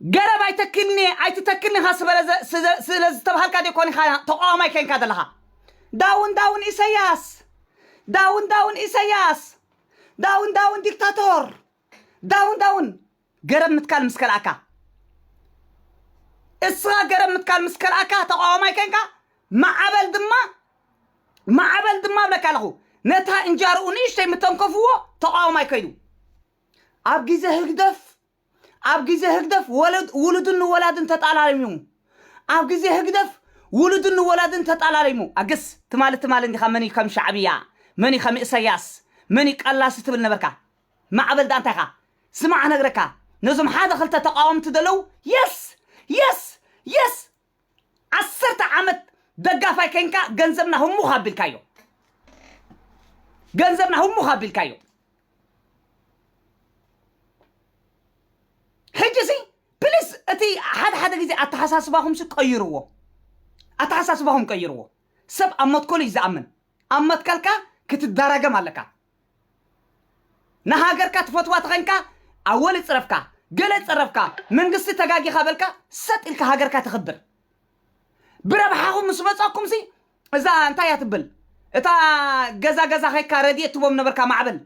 ገረብ ኣይተክልንየ ኣይትተክልን ኢኻ ስለዝተብሃልካ ዲኮን ኢኻ ተቋዋማይ ኮንካ ዘለኻ ዳውን ዳውን ኢሰያስ ዳውን ዳውን ኢሰያስ ዳውን ዳውን ዲክታቶር ዳውን ዳውን ገረብ ምትካል ምስ ከልኣካ እስኻ ገረብ ምትካል ምስ ከልኣካ ተቃዋማይ ከንካ ማዓበል ድማ ማዓበል ድማ እብለካ ኣለኹ ነታ እንጃርኡ ንእሽተይ ምተንከፍዎ ተቃዋማይ ከይዱ ኣብ ግዜ ህግደፍ ኣብ ግዜ ህግደፍ ወለድ ውሉድን ወላድን ተጣላሊሙ ኣብ ግዜ ህግደፍ ውሉድን ወላድን ተጣላሊሙ ኣገስ ትማሊ ትማሊ እንዲኻ መን እዩ ከም ሻዕብያ መን እዩ ከም ኢሰያስ መን እዩ ቀላሲ ትብል ነበርካ ማዕበል ዳኣ እንታይ ኢኻ ስማዕ ክነግረካ ነዞም ሓደ ክልተ ተቃወምቲ ደለው yes yes yes ዓሰርተ ዓመት ደጋፋይ ከይንካ ገንዘብና ህሙኽ ኣቢልካዮ ገንዘብና ህሙኽ ኣቢልካዮ ሕጂ ሲ ፕሊስ እቲ ሓደ ሓደ ግዜ ኣተሓሳስባኹም ሲ ቀይርዎ ኣተሓሳስባኹም ቀይርዎ ሰብ ኣብ መትከሉ እዩ ዝኣምን ኣብ መትከልካ ክትደራገም ኣለካ ንሃገርካ ትፈትዋ ተኸንካ ኣወል እጽረፍካ ገለ ጸረፍካ መንግስቲ ተጋጊኻ በልካ ሰጥ ኢልካ ሃገርካ ተኽብር ብረብሓኹም ምስ መጸኩምሲ እዛ እንታይ እያ ትብል እታ ገዛ ገዛ ኸይካ ረድኤት ትቦም ነበርካ ማዕበል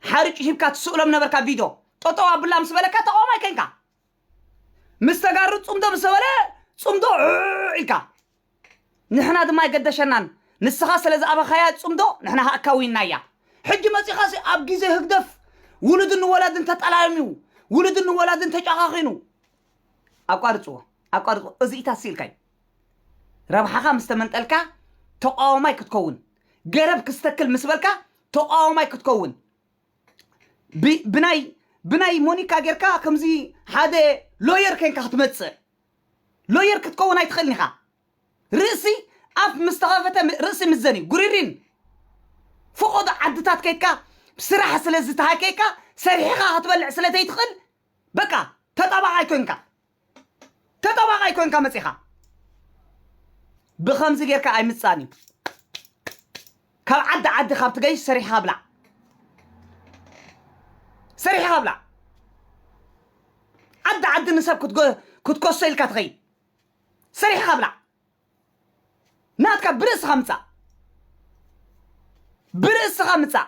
ሓርጭ ሂብካ ትስእሎም ነበርካ ቪዶ ጠጠው ኣቡላ ምስ በለካ ተቃዋማይ ከንካ ምስ ተጋሩ ፅምዶ ምስ ተበለ ፅምዶ ዑዕ ኢልካ ንሕና ድማ ኣይገደሸናን ንስኻ ስለ ዝኣበኻያ ፅምዶ ንሕና ከዓ ካዊንናያ ሕጂ መፂኻ ሲ ኣብ ግዜ ህግደፍ ውሉድን ወላድን ተጠላዮም እዩ ውሉድን ወላድን ተጫኻኺኑ ኣቋርፅዎ ኣቋርፅዎ እዚኢታት ስኢልካ እዩ ረብሓኻ ምስ ተመንጠልካ ተቋዋማይ ክትከውን ገረብ ክስተክል ምስ በልካ ተቋዋማይ ክትከውን ብ- ብናይ ብናይ ሞኒካ ጌርካ ከምዚ ሓደ ሎየር ኮንካ ክትመጽእ ሎየር ክትከውን ኣይትኽእልን ኢኻ ርእሲ ኣፍ ምስ ተኸፈተ ም- ርእሲ ምዘን እዩ ጉሪሪን ፈቆዶ ዓድታት ከይድካ ስራሕ ስለ ዝተሃከይካ ሰሪሕኻ ክትበልዕ ስለ ዘይትኽእል በቃ ተጣባቓይ ኮንካ ተጠዋቃይ ኮንካ መጺኻ ብኸምዚ ጌርካ ኣይምጻን እዩ ካብ ዓዲ ዓዲ ካብ ትገይሽ ሰሪሕኻ ብላዕ ሰሪሕኻ ብላዕ ዓዲ ዓዲ ንሰብ ክትጎ- ክትኮሶ ኢልካ ትኸይድ ሰሪሕኻ ብላዕ ናትካ ብርእስኻ ምጻእ ብርእስኻ ምጻእ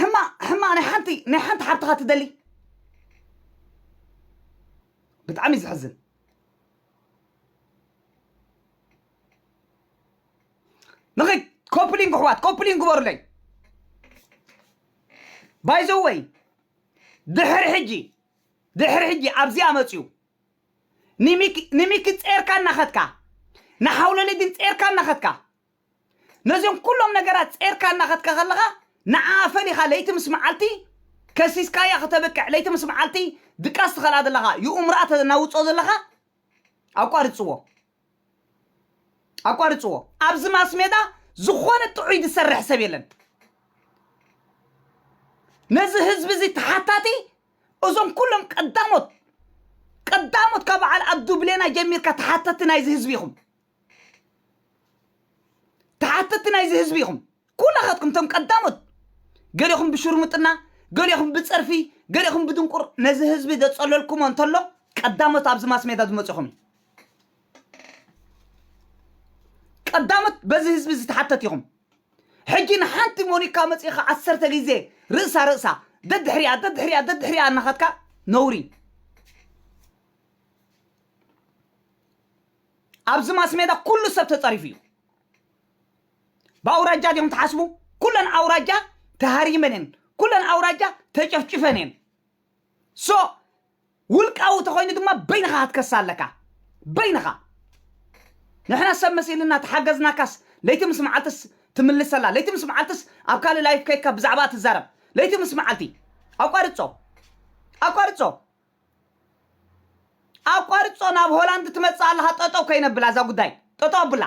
ሕማቕ ሕማቕ ናይ ሓንቲ ናይ ሓንቲ ሓብትኻ ትደሊ ብጣዕሚ እዩ ዝሕዝን ንኸይ ኮፕሊንግ ኣሕዋት ኮፕሊንግ ግበሩለይ ባይዘወይ ድሕሪ ሕጂ ድሕሪ ሕጂ ኣብዚኣ መፅዩ ንሚኪ ንሚኪ ጼርካ እናኸድካ ንሓውለለ ግን ጼርካ እናኸድካ ነዞም ኩሎም ነገራት ጼርካ እናኸድካ ከለኻ ንዓኣ ፈሊኻ ለይቲ ምስ መዓልቲ ከሲስካያ ክተብቅዕ ለይቲ ምስ መዓልቲ ድቃስ ትኸልኣ ዘለኻ ይኡምርኣ ተናውጾ ዘለኻ ኣቋርጽዎ ኣቋርፅዎ ኣብዚ ማስሜዳ ዝኾነ ጥዑይ ዝሰርሕ ሰብ የለን ነዚ ህዝቢ እዚ ተሓታቲ እዞም ኩሎም ቀዳሞት ቀዳሞት ካብ በዓል ኣብዱ ብሌና ጀሚርካ ተሓተቲ ናይዚ ህዝቢ ኢኹም ተሓተቲ ናይዚ ህዝቢ ኢኹም ኩላኻትኩም እቶም ቀዳሞት ገሊኹም ብሽርሙጥና ገሊኹም ብጸርፊ ገሊኹም ብድንቁር ነዚ ህዝቢ ዘጸለልኩሞ እንተሎ ቀዳሞት ኣብዚ ማስሜዳ ዝመጽኹም እዩ ቀዳሞት በዚ ህዝቢ ዝተሓተት ኢኹም ሕጂ ንሓንቲ ሞኒካ መጺኻ ዓሰርተ ግዜ ርእሳ ርእሳ ደድሕሪያ ደድሕሪያ ደድሕሪያ እናኸትካ ነውሪ ኣብዚ ማስሜዳ ኩሉ ሰብ ተጸሪፉ እዩ ብኣውራጃ ድዮም ትሓስቡ? ኩለን ኣውራጃ ተሃሪመን እየን። ኩለን ኣውራጃ ተጨፍጭፈን እየን። ሶ ውልቃዊ ተኮይኑ ድማ በይንኻ ክትከሳ ኣለካ በይንኻ ንሕና ሰብ መሲልና ተሓገዝናካስ ለይቲ ምስ መዓልትስ ትምልሰላ ለይቲ ምስ መዓልትስ ኣብ ካልእ ላይፍ ከይካ ብዛዕባ ትዛረብ ለይቲ ምስ መዓልቲ ኣቋርጾ ኣቋርጾ ኣቋርጾ ናብ ሆላንድ ትመጽእ ኣለኻ ጠጠው ከይነብላ እዛ ጉዳይ ጠጠው ኣብላ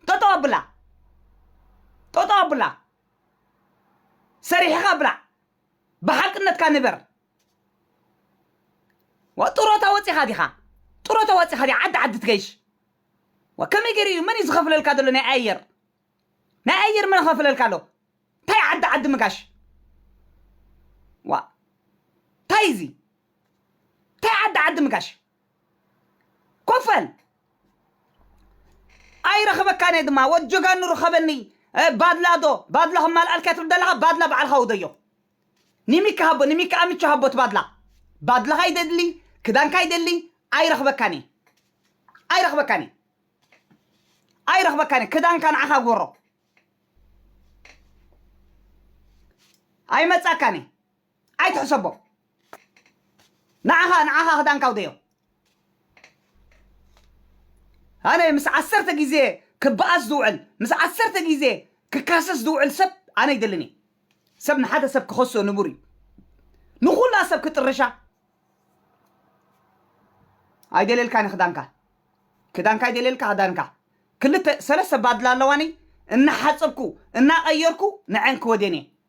ጠጠው ኣብላ ጠጠው ኣብላ ሰሪሕኻ ብላዕ ብሓቅነትካ ንበር ዋ ጥሮታ ወፂኻ ዲኻ ጥሮታ ወፂኻ ዲ ዓዲ ዓዲ ትገይሽ ዋ ከመይ ገይሩ እዩ መን እዩ ዝኸፍለልካ ዘሎ ናይ ኣየር ናይ ኣየር መን ኸፍለልካ ኣሎ እንታይ ዓዲ ዓዲ ምጋሽ ዋ እንታይ እዚ እንታይ ዓዲ ዓዲ ምጋሽ ኮፍ በል ኣይረኽበካን እየ ድማ ወድ ጀጋኑ ርኸበኒ እ፣ ባድላ ዶ ባድላ ከማልኣልካ ትብል ዘለኻ ባድላ ባዕልኻ ውደዮ ንሚኪ ሃቦ ንሚኪ ኣምቸ ሃቦ እቲ ባድላ ባድላኻ ይደሊ ክዳንካ ይደሊ ኣይረኽበካን እየ ኣይረኽበካን እየ ኣይረኽበካን እየ ክዳንካ ንዓኻ ጎሮ ኣይመጻካን እየ ኣይትሕሰቦ ንዓኻ ንዓኻ ክዳንካ ኣውደዮ ኣነ ምስ ዓሰርተ ግዜ ክበኣስ ዝውዕል ምስ ዓሰርተ ግዜ ክካሰስ ዝውዕል ሰብ ኣነ ይደልን እየ ሰብ ንሓደ ሰብ ክኸሶ ንቡር እዩ ንኹላ ሰብ ክጥርሻ ኣይደልየልካ ኒ ክዳንካ ክዳንካ ኣይደልየልካ ክዳንካ ክልተ ሰለስተ ባድላ ኣለዋኒ እናሓፀብኩ እናቐየርኩ ንዐን ክወድየን እየ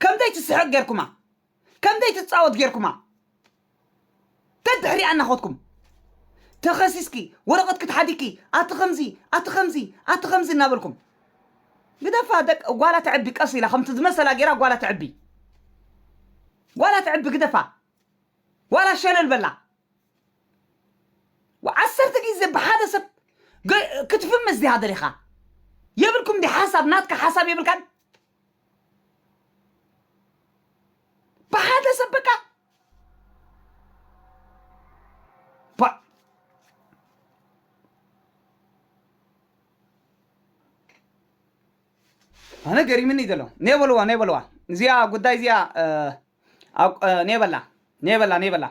ከምዘይ ትስሕቅ ጌርኩማ ከምዘይ ትጻወት ጌርኩማ ደድሕሪኣ እናኸድኩም ተኸሲስኪ ወረቐትኪ ተሓዲግኪ ኣቲ ከምዚ ኣቲ ከምዚ ኣቲ ከምዚ እናበልኩም ግደፋ ደቅ ጓላ ተዕቢ ቀስ ኢላ ከምቲ ዝመሰላ ጌራ ጓላ ተዕቢ ጓላ ተዕቢ ግደፋ ዋላ ሸለል በላ ዓሰርተ ግዜ ብሓደ ሰብ ገ- ክትፍምስ ዲኻ ደሊኻ የብልኩም ዲ ሓሳብ ናትካ ሓሳብ የብልካን ብሓደ ሰብ በቃ ባ ኣነ ገሪምኒ ዘሎ ኔበልዋ ኔበልዋ እዚኣ ጉዳይ እዚኣ እ፣ ኣብ- እ፣ ኔበላ ኔበላ ኔበላ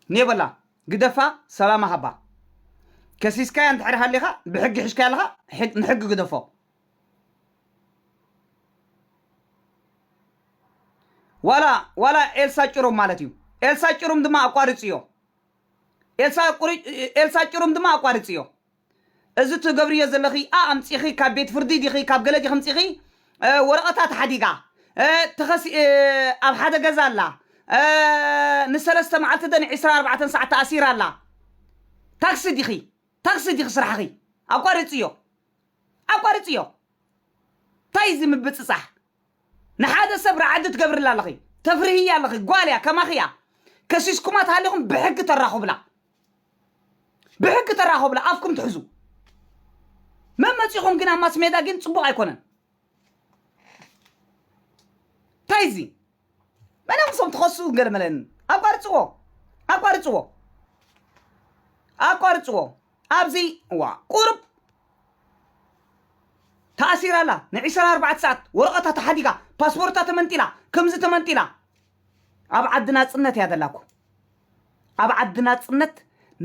ኔበላ ግደፋ ሰላማ ሃባ ከሲስካያ እንድሕር ሃሊኻ ብሕጊ ሒሽካያ ኣለኻ ሕግ- ንሕጊ ግደፎ ዋላ ዋላ ኤልሳ ጭሩም ማለት እዩ ኤልሳ ጭሩም ድማ ኣቋርፅዮ ኤልሳ ቁሪ- ኤልሳ ጭሩም ድማ ኣቋርፅዮ እዚ ትገብርዮ ዘለኺ ኣ ኣምፂኺ ካብ ቤት ፍርዲ ዲኺ ካብ ገለ ዲኺ ምፂኺ እ፣ ወረቐታት ሓዲጋ እ፣ ተኸሲ እ፣ ኣብ ሓደ ገዛ ኣላ እ፣ ንሰለስተ መዓልቲ ደን 24 ሰዓት ተኣሲራ ኣላ ታክሲ ዲኺ ታክሲ ዲኺ ስራሕኺ ኣቋርፅዮ ኣቋርጽዮ ታይ እዚ ምብጽጻሕ ንሓደ ሰብ ራዕዲ ትገብርላ ኣለኺ ተፍርህያ ኣለኺ ጓል እያ ከማኺ እያ ከሲስኩማ ተሃሊኹም ብሕጊ ተራኹብላ ብሕጊ ተራኹብላ ኣፍኩም ትሕዙ መመጺኹም ግን ኣብ ማስሜዳ ግን ጽቡቕ ኣይኮነን እንታይ እዚ መነም ሶም ትኸስኡ ገለመለን ኣቋርፅዎ ኣቋርፅዎ ኣቋርፅዎ ኣብዚ ዋ ቁሩብ ተኣሲራ ኣላ ንዒስራ ኣርባዕተ ሰዓት ወረቐታ ተሓዲጋ ፓስፖርታ ተመንጢላ ከምዚ ተመንጢላ ኣብ ዓዲ ናፅነት እያ ዘላኩ ኣብ ዓዲ ናፅነት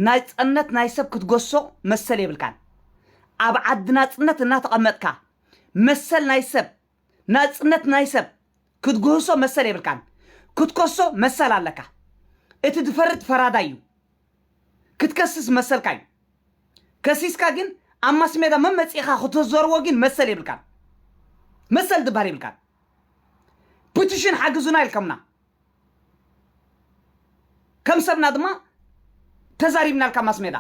ናይ ፀነት ናይ ሰብ ክትገሶ መሰል የብልካን ኣብ ዓዲ ናፅነት እናተቐመጥካ መሰል ናይ ሰብ ናጽነት ናይ ሰብ ክትግህሶ መሰል የብልካን ክትከሶ መሰል ኣለካ እቲ ዝፈርድ ፈራዳይ እዩ ክትከስስ መሰልካ እዩ ከሲስካ ግን ኣብ ማስሜዳ መመጺእኻ ክትዘርዎ ግን መሰል የብልካን መሰል ዝባሃል የብልካን ፕቲሽን ሓግዙና ኢልከምና ከም ሰብና ድማ ተዛሪብናልካ ማስሜዳ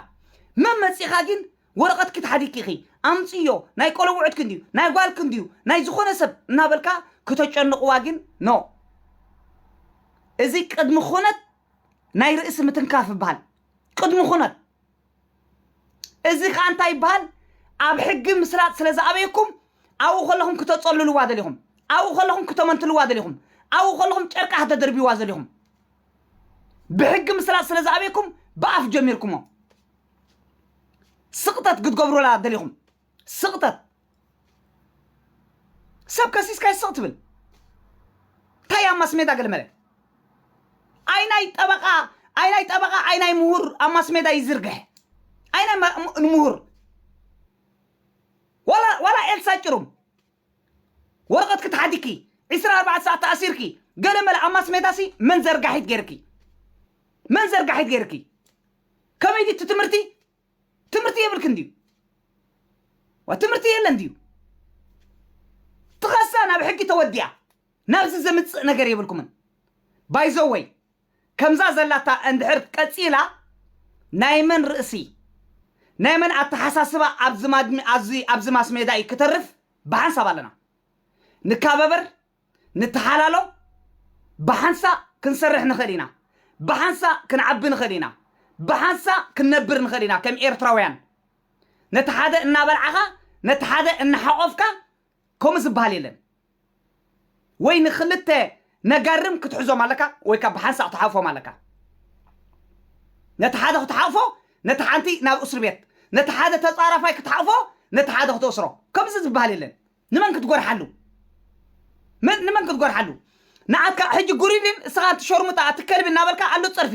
መመጺኻ ግን ወረቐትኪ ተሓዲግኪ ኣምፅእዮ፣ ናይ ቆለውዕትኪ እንድዩ፣ ናይ ጓልኪ እንድዩ፣ ናይ ዝኾነ ሰብ እናበልካ ክተጨንቕዋ ግን no። እዚ ቅድሚ ኹነት ናይ ርእሲ ምትንካፍ ይበሃል። ቅድሚ ኹነት። እዚ ከዓ እንታይ ይበሃል? ኣብ ሕጊ ምስላጥ ስለ ዝኣበየኩም ኣብኡ ከለኹም ክተፀልልዋ ደሊኹም፣ ኣብኡ ከለኹም ክተመንትልዋ ደሊኹም፣ ኣብኡ ከለኹም ጨርቃ ክተደርብይዋ ዘሊኹም። ብሕጊ ምስላጥ ስለ ዝኣበየኩም ብኣፍ ጀሚርኩሞ። ስቕጠት ክትገብሩላ ደሊኹም ስቕጠት ሰብ ከሲስካ ስቕ ትብል እንታይ ኣብ ማስሜዳ ገለመለ ኣይናይ ጠበቃ ኣይናይ ጠበቃ ኣይናይ ምሁር ኣብ ማስሜዳ ይዝርግሐ ኣይናይ ምሁር ዋላ ዋላ ኤልሳ ጭሩም ወረቀትኪ ተሓቲኪ ዕስራን ኣርባዕተ ሰዓት ተኣሲርኪ ገለ መለ ኣብ ማስሜዳሲ መን ዘርጋሒት ገይርኪ መን ዘርጋሒት ገይርኪ ከመይ ድዩ እቲ ትምህርቲ ትምህርቲ የብልክን ድዩ ዋ ትምህርቲ የለን ድዩ ትኸሳ ናብ ሕጊ ተወዲኣ ናብዚ ዘምፅእ ነገር የብልኩምን ባይዘወይ ከምዛ ዘላታ እንድሕር ቀጺላ ናይ መን ርእሲ ናይ መን ኣተሓሳስባ ኣብዚ ማድሚ ኣዚ ኣብዚ ማስሜዳ እዩ ክተርፍ ብሓንሳብ ኣለና ንካበበር ንተሓላሎ ብሓንሳ ክንሰርሕ ንኽእል ኢና ብሓንሳ ክንዓቢ ንኽእል ኢና ብሓንሳ ክንነብር ንኽእል ኢና ከም ኤርትራውያን ነቲ ሓደ እናበልዓኻ ነቲ ሓደ እናሓቖፍካ ከምኡ ዝበሃል የለን። ወይ ንክልተ ነጋርም ክትሕዞም ኣለካ ወይ ካብ ብሓንሳእ ክትሓቕፎም ኣለካ። ነቲ ሓደ ክትሓቕፎ ነቲ ሓንቲ ናብ እስር ቤት፣ ነቲ ሓደ ተጻራፋይ ክትሓቕፎ ነቲ ሓደ ክትእስሮ። ከምዚ ዝበሃል የለን። ንመን ክትጎርሓሉ? መን ንመን ክትጎርሓሉ? ንዓትካ ሕጂ ጉሪድን እስኻ ኣቲ ሾርሙጣ ኣቲ ከልቢ እናበልካ ኣሉ ጸርፊ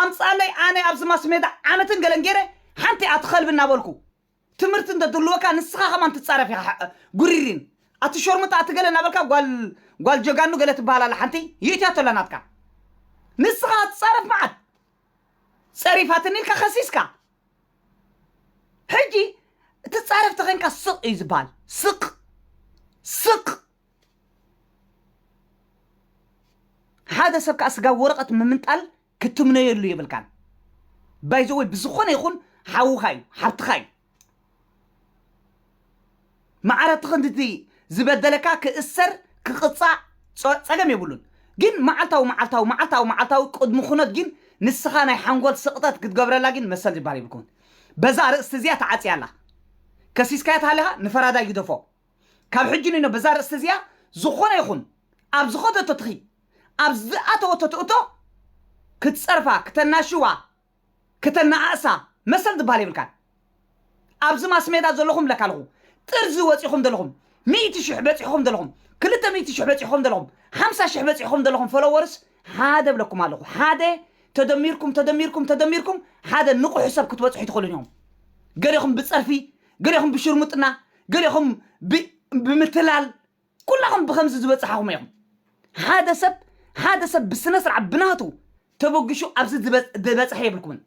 ኣምጽኣለይ ኣነ ኣብዚ ማስሜዳ ዓመትን ገለን ገይረ ሓንቲ ኣቲ ከልቢ እናበልኩ ትምህርቲ እንተ ትህልወካ ንስኻ ከማን ትጻረፍ ኢኻ ሕእ ጉሪሪን ኣቲ ሾርሙጣ ኣቲ ገለ ናበልካ ጓል ጓል ጀጋኑ ገለ ትበሃል ኣላ ሓንቲ ይእትያቶ ኣላ ናትካ ንስኻ ትጻረፍ መዓት ጸሪፋትኒ ኢልካ ከሲስካ ሕጂ ትጻረፍ ተኸንካ ስቕ እዩ ዝበሃል ስቕ ስቕ ሓደ ሰብ ከዓ ስጋብ ወረቐት ምምንጣል ክትምነየሉ የብልካን ባይ ዘ ወይ ብዝኾነ ይኹን ሓውኻ እዩ ሓብትኻ እዩ ማዕረቲ ክንድቲ ዝበደለካ ክእሰር ክቕፃእ ፀ- ፀገም የብሉን ግን መዓልታዊ መዓልታዊ መዓልታዊ መዓልታዊ ቅድሚ ኩነት ግን ንስኻ ናይ ሓንጎል ስቕጠት ክትገብረላ ግን መሰል ዝበሃል የብልኩምን በዛ ኣርእስቲ እዚኣ ተዓፅያ ኣላ ከሲስካያ ተሃሊኻ ንፈራዳይ ግደፎ ካብ ሕጂ ንኖ በዛ ርእስቲ እዚኣ ዝኾነ ይኹን ኣብ ዝኸደቶ ትኺ ኣብ ዝኣተወቶ ትእቶ ክትጸርፋ ክተናሽዋ ክተናኣእሳ መሰል ዝብሃል የብልካን ኣብዚ ማስሜዳ ዘለኹም ለካልኹ ጥርዚ ወጺኹም ዘለኹም ሚእቲ ሽሕ በጺሕኹም ዘለኹም ክልተ ሚእቲ ሽሕ በጺሕኹም ዘለኹም ሓምሳ ሽሕ በጺሕኹም ዘለኹም ፎሎወርስ ሓደ ብለኩም ኣለኹ ሓደ ተደሚርኩም ተደሚርኩም ተደሚርኩም ሓደ ንቑሕ ሰብ ክትበጽሑ ትኽእሉን ኢኹም ገሌኹም ብጸርፊ ገሌኹም ብሽርሙጥና ገሌኹም ብምትላል ኩላኹም ብከምዚ ዝበፅሓኹም ኢኹም ሓደ ሰብ ሓደ ሰብ ብስነ ስርዓት ብናቱ ተበግሹ ኣብዚ ዝበፅሐ የብልኩምን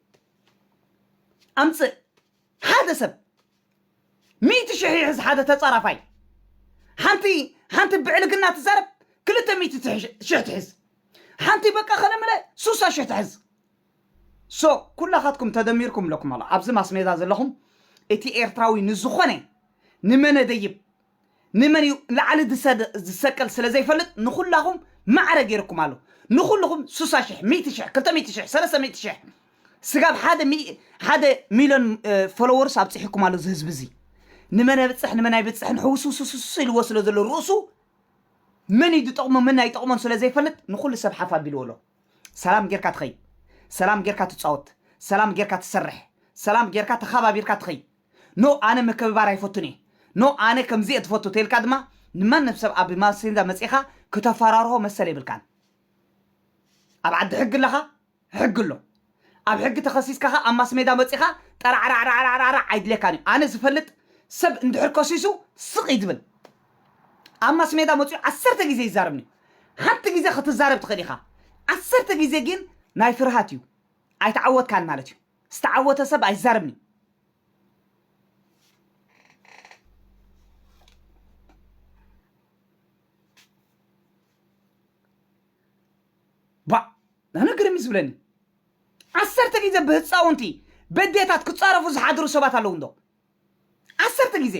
ኣምፅእ ሓደ ሰብ ሚእቲ ሽሕ ይሕዝ ሓደ ተፃራፋይ ሓንቲ ሓንቲ ብዕልግና ትዛረብ ክልተ ሚእቲ ሽሕ ትሕዝ ሓንቲ በቃ ከለምለ ሱሳ ሽሕ ትሕዝ So ኩላኻትኩም ተደሚርኩም እለኩም ኣሎኹ ኣብዚ ማስሜዳ ዘለኹም እቲ ኤርትራዊ ንዝኾነ ንመነ ደይብ ንመን እዩ ላዕሊ ድሰደ ዝሰቀል ስለ ዘይፈልጥ ንኹላኹም ማዕረ ጌሩኩም ኣሎ ንኹሉኹም ሱሳ ሽሕ ሚእቲ ሽሕ ክልተ ሚእቲ ሽሕ ሰለስተ ሚእቲ ሽሕ ስጋብ ሓደ ሚ ሓደ ሚልዮን ፎሎወርስ ኣብጺሑኩም ኣሎ እዚ ህዝቢ እዚ ንመን ኣብጽሕ ንመን ኣይብጽሕን ሕውስውስውስ ኢልዎ ስለ ዘሎ ርእሱ መን እዩ ዝጠቕሞ መን ኣይጠቕሞን ስለ ዘይፈልጥ ንኹሉ ሰብ ሓፍ ኣቢልዎ ኣሎ ሰላም ጌርካ ትኸይድ፣ ሰላም ጌርካ ትጻወት፣ ሰላም ጌርካ ትሰርሕ፣ ሰላም ጌርካ ተኻባቢርካ ትኸይድ። ኖ ኣነ ምክብባር ኣይፈቱን እየ፣ ኖ ኣነ ከምዚ እየ ዝፈቱ ተልካ ድማ ንማንም ሰብ ኣብ ማሰንጃ መጺኻ ክተፈራርሆ መሰል የብልካን። ኣብ ዓዲ ሕጊ ኣለኻ፣ ሕጊ ኣሎ። ኣብ ሕጊ ተኸሲስካ ከኣ ኣብ ማስሜዳ መጺኻ ጠራዕራዕራዕራዕራዕ ኣይድልየካን እዩ። ኣነ ዝፈልጥ ሰብ እንድሕር ከሲሱ ስቕ እዩ ዝብል። ኣብ ማስሜዳ መጺኡ ዓሰርተ ግዜ ይዛረብ እንድዩ። ሓንቲ ግዜ ክትዛረብ ትኽእል ኢኻ። ዓሰርተ ግዜ ግን ናይ ፍርሃት እዩ። ኣይተዓወትካን ማለት እዩ። ዝተዓወተ ሰብ ኣይዛረብን እዩ። ባእ ኣነ ግርም እዩ ዝብለኒ ዓሰርተ ግዜ ብህፃውንቲ በዴታት ክፃረፉ ዝሓድሩ ሰባት ኣለዉ እንዶ ዓሰርተ ግዜ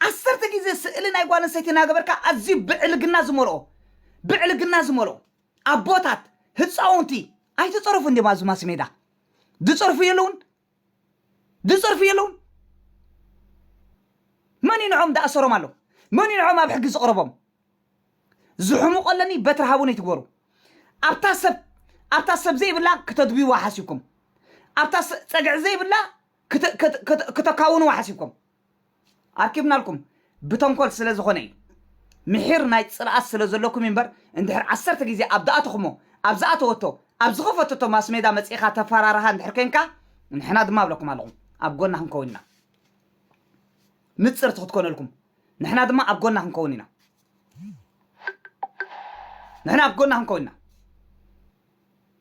ዓሰርተ ግዜ ስእሊ ናይ ጓል ኣንስተይቲ እናገበርካ ኣዝዩ ብዕልግና ዝመልኦ ብዕልግና ዝመልኦ ኣቦታት ህፃውንቲ ኣይተፀረፉ እንዲም ኣብዚ ማስሜዳ ዝፀርፉ የለውን ዝጸርፉ የለውን መን እዩ ንዖም ዳኣሰሮም ኣሎ መን እዩ ንዖም ኣብ ሕጊ ዝቕረቦም ዝሕሙቆ ኣለኒ በትሪ ሃቡኒ ትግበሩ ኣብታ ሰብ ኣብታ ሰብ ዘይብላ ክተድብይዋ ሓሲብኩም ኣብታ ጸግዒ ዘይብላ ክተካውንዋ ሓሲብኩም ኣርኪብናልኩም ብተንኮል ስለ ዝኾነ እዩ ምሒር ናይ ጽልኣት ስለ ዘለኩም እዩ እምበር እንድሕር ዓሰርተ ግዜ ኣብ ድኣተኹሞ ኣብ ዝኣተወቶ ኣብ ዝኸፈተቶ ማስሜዳ መጺእኻ ተፋራራሃ እንድሕር ኮንካ ንሕና ድማ እብለኩም ኣለኹ ኣብ ጎና ክንከውን ኢና ንጽርቲ ክትኮነልኩም ንሕና ድማ ኣብ ጎና ክንከውን ኢና ንሕና ኣብ ጎና ክንከውን ኢና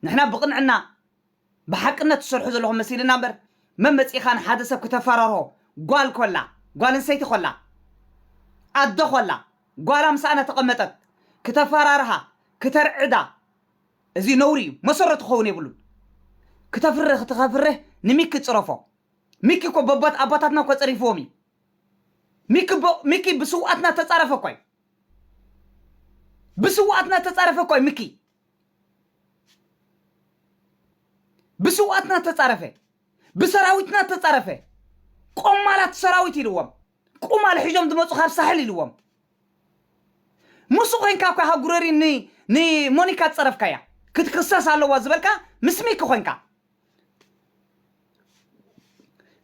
ንሕና ብቕንዕና ብሓቅነት ትሰርሑ ዘለኹም መሲልና እምበር መን መጺእካ ንሓደ ሰብ ክተፈራርሆ ጓል ኮላ ጓል ኣንሰይቲ ኮላ ኣደ ኮላ ጓላ ምሳኣ እናተቐመጠት ክተፈራርሃ ክተርዕዳ እዚ ነውሪ እዩ መሰረቱ ክኸውን የብሉን ክተፍርህ ክትኸፍርህ ንሚኪ ጽረፎ ሚኪ እኮ በቦት ኣቦታትና እኮ ጸሪፍዎም እዩ ሚኪ ብ- ሚኪ ብስውኣትና ተጻረፈ እኮ እዩ ብስውኣትና ተጻረፈ እኮ እዩ ሚኪ ብስውኣትና እተጻረፈ ብሰራዊትና እተጻረፈ ቆማላት ሰራዊት ኢልዎም ቁማል ሒዞም ዝመፁ ካብ ሳሕል ኢልዎም ምስኡ ኮንካ እኳ ሃጉረሪ ን- ንሞኒካ ዝፀረፍካያ ክትክሰስ ኣለዋ ዝበልካ ምስ ሚኪ ኮንካ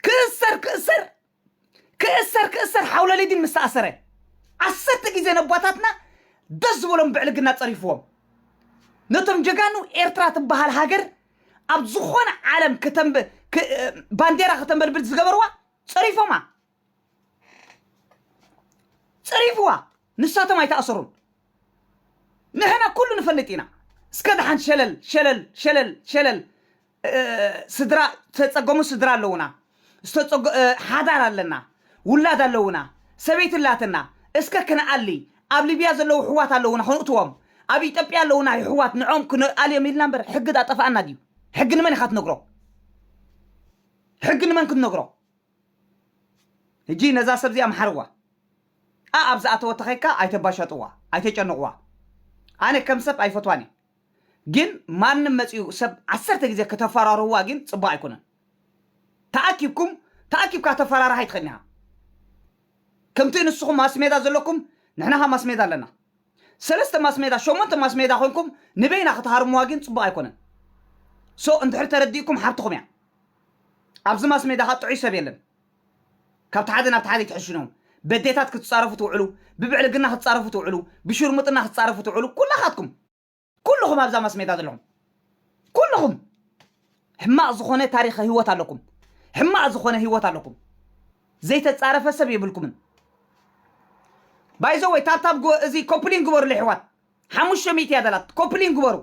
ክእሰር ክእሰር ክእሰር ክእሰር ሓውለሊዲን ምስ ተኣሰረ ዓሰርተ ግዜ ነቦታትና ደስ ዝበሎም ብዕልግና ጸሪፍዎም ነቶም ጀጋኑ ኤርትራ ትበሃል ሃገር ኣብ ዝኾነ ዓለም ከተንብ ክ- ባንዴራ ከተንበልብል ዝገበርዋ ጸሪፎማ ጸሪፍዋ ንሳቶም ኣይተኣሰሩን ንሕና ኩሉ ንፈልጥ ኢና እስከ ደሓን ሸለል ሸለል ሸለል ሸለል ስድራ ዝተጸገሙ ስድራ ኣለዉና ዝተጸጎ ሓዳር ኣለና ውላድ ኣለዉና ሰበይቲ ኣላትና እስከ ክንኣሊ ኣብ ሊብያ ዘለዉ ኣሕዋት ኣለዉና ክንእትዎም ኣብ ኢትዮጵያ ኣለዉና ኣሕዋት ንዖም ክንኣልዮም ኢልና እምበር ሕጊ ዳጠፋኣና ድዩ ሕጊ ንመን ኢኻ ትነግሮ ሕጊ ንመን ክትነግሮ ሕጂ ነዛ ሰብዚኣ መሓርዋ ኣብ ዝኣተወ ተኸይካ ኣይተባሻጥዋ ኣይተጨንቕዋ ኣነ ከም ሰብ ኣይፈትዋን እየ ግን ማንም መጺኡ ሰብ ዓሰርተ ግዜ ከተፋራርህዋ ግን ጽቡቅ ኣይኮነን ተኣኪብኩም ተኣኪብካ ተፈራርህ ኣይትኽእልን ኢኻ ከምቲ ንስኹም ማስሜዳ ዘለኩም ንሕና ኸ ማስሜዳ ኣለና ሰለስተ ማስሜዳ ሸሞንተ ማስሜዳ ኮንኩም ንበይና ክትሃርምዋ ግን ጽቡቅ ኣይኮነን ሶ እንድሕር ተረዲእኩም ሓብትኹም እያ ኣብዚ ማስሜዳ ኸ ጥዑይ ሰብ የለን ካብቲ ሓደ ናብቲ ሓደ ኣይትሕሽኑን በዴታት ክትጻረፉ ትውዕሉ ብብዕልግና ክትጻረፉ ትውዕሉ ብሹርሙጥና ክትጻረፉ ትውዕሉ ኩላኻትኩም ኩሉኹም ኣብዛ ማስሜዳ ዘለኹም ኩሉኹም ሕማቕ ዝኾነ ታሪኸ ህይወት ኣለኩም ሕማቕ ዝኾነ ህይወት ኣለኩም ዘይተጻረፈ ሰብ የብልኩምን ባይዘ ወይ ታብታብ ግበ እዚ ኮፕሊን ግበሩ ለሕዋት ሓሙሽተ ሚእቲ እያ ዘላት ኮፕሊን ግበሩ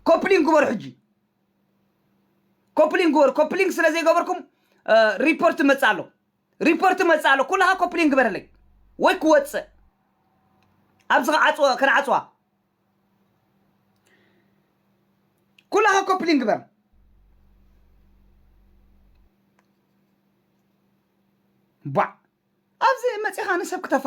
ኮፕሊን ግበሩ ሕጂ ኮፕሊንግ ግበሩ ኮፕሊንግ ስለ ዘይገበርኩም ሪፖርት መጽእ ኣሎ ሪፖርት መጽእ ኣሎ ኩልኻ ኮፕሊንግ ግበረለይ ወይ ክወጽእ ኣብዚ ከዓጽወ ከነዓጽዋ ኩላኻ ኮፕሊንግ ግበር ባዕ ኣብዚ መጺኻ ንሰብ ክተፋ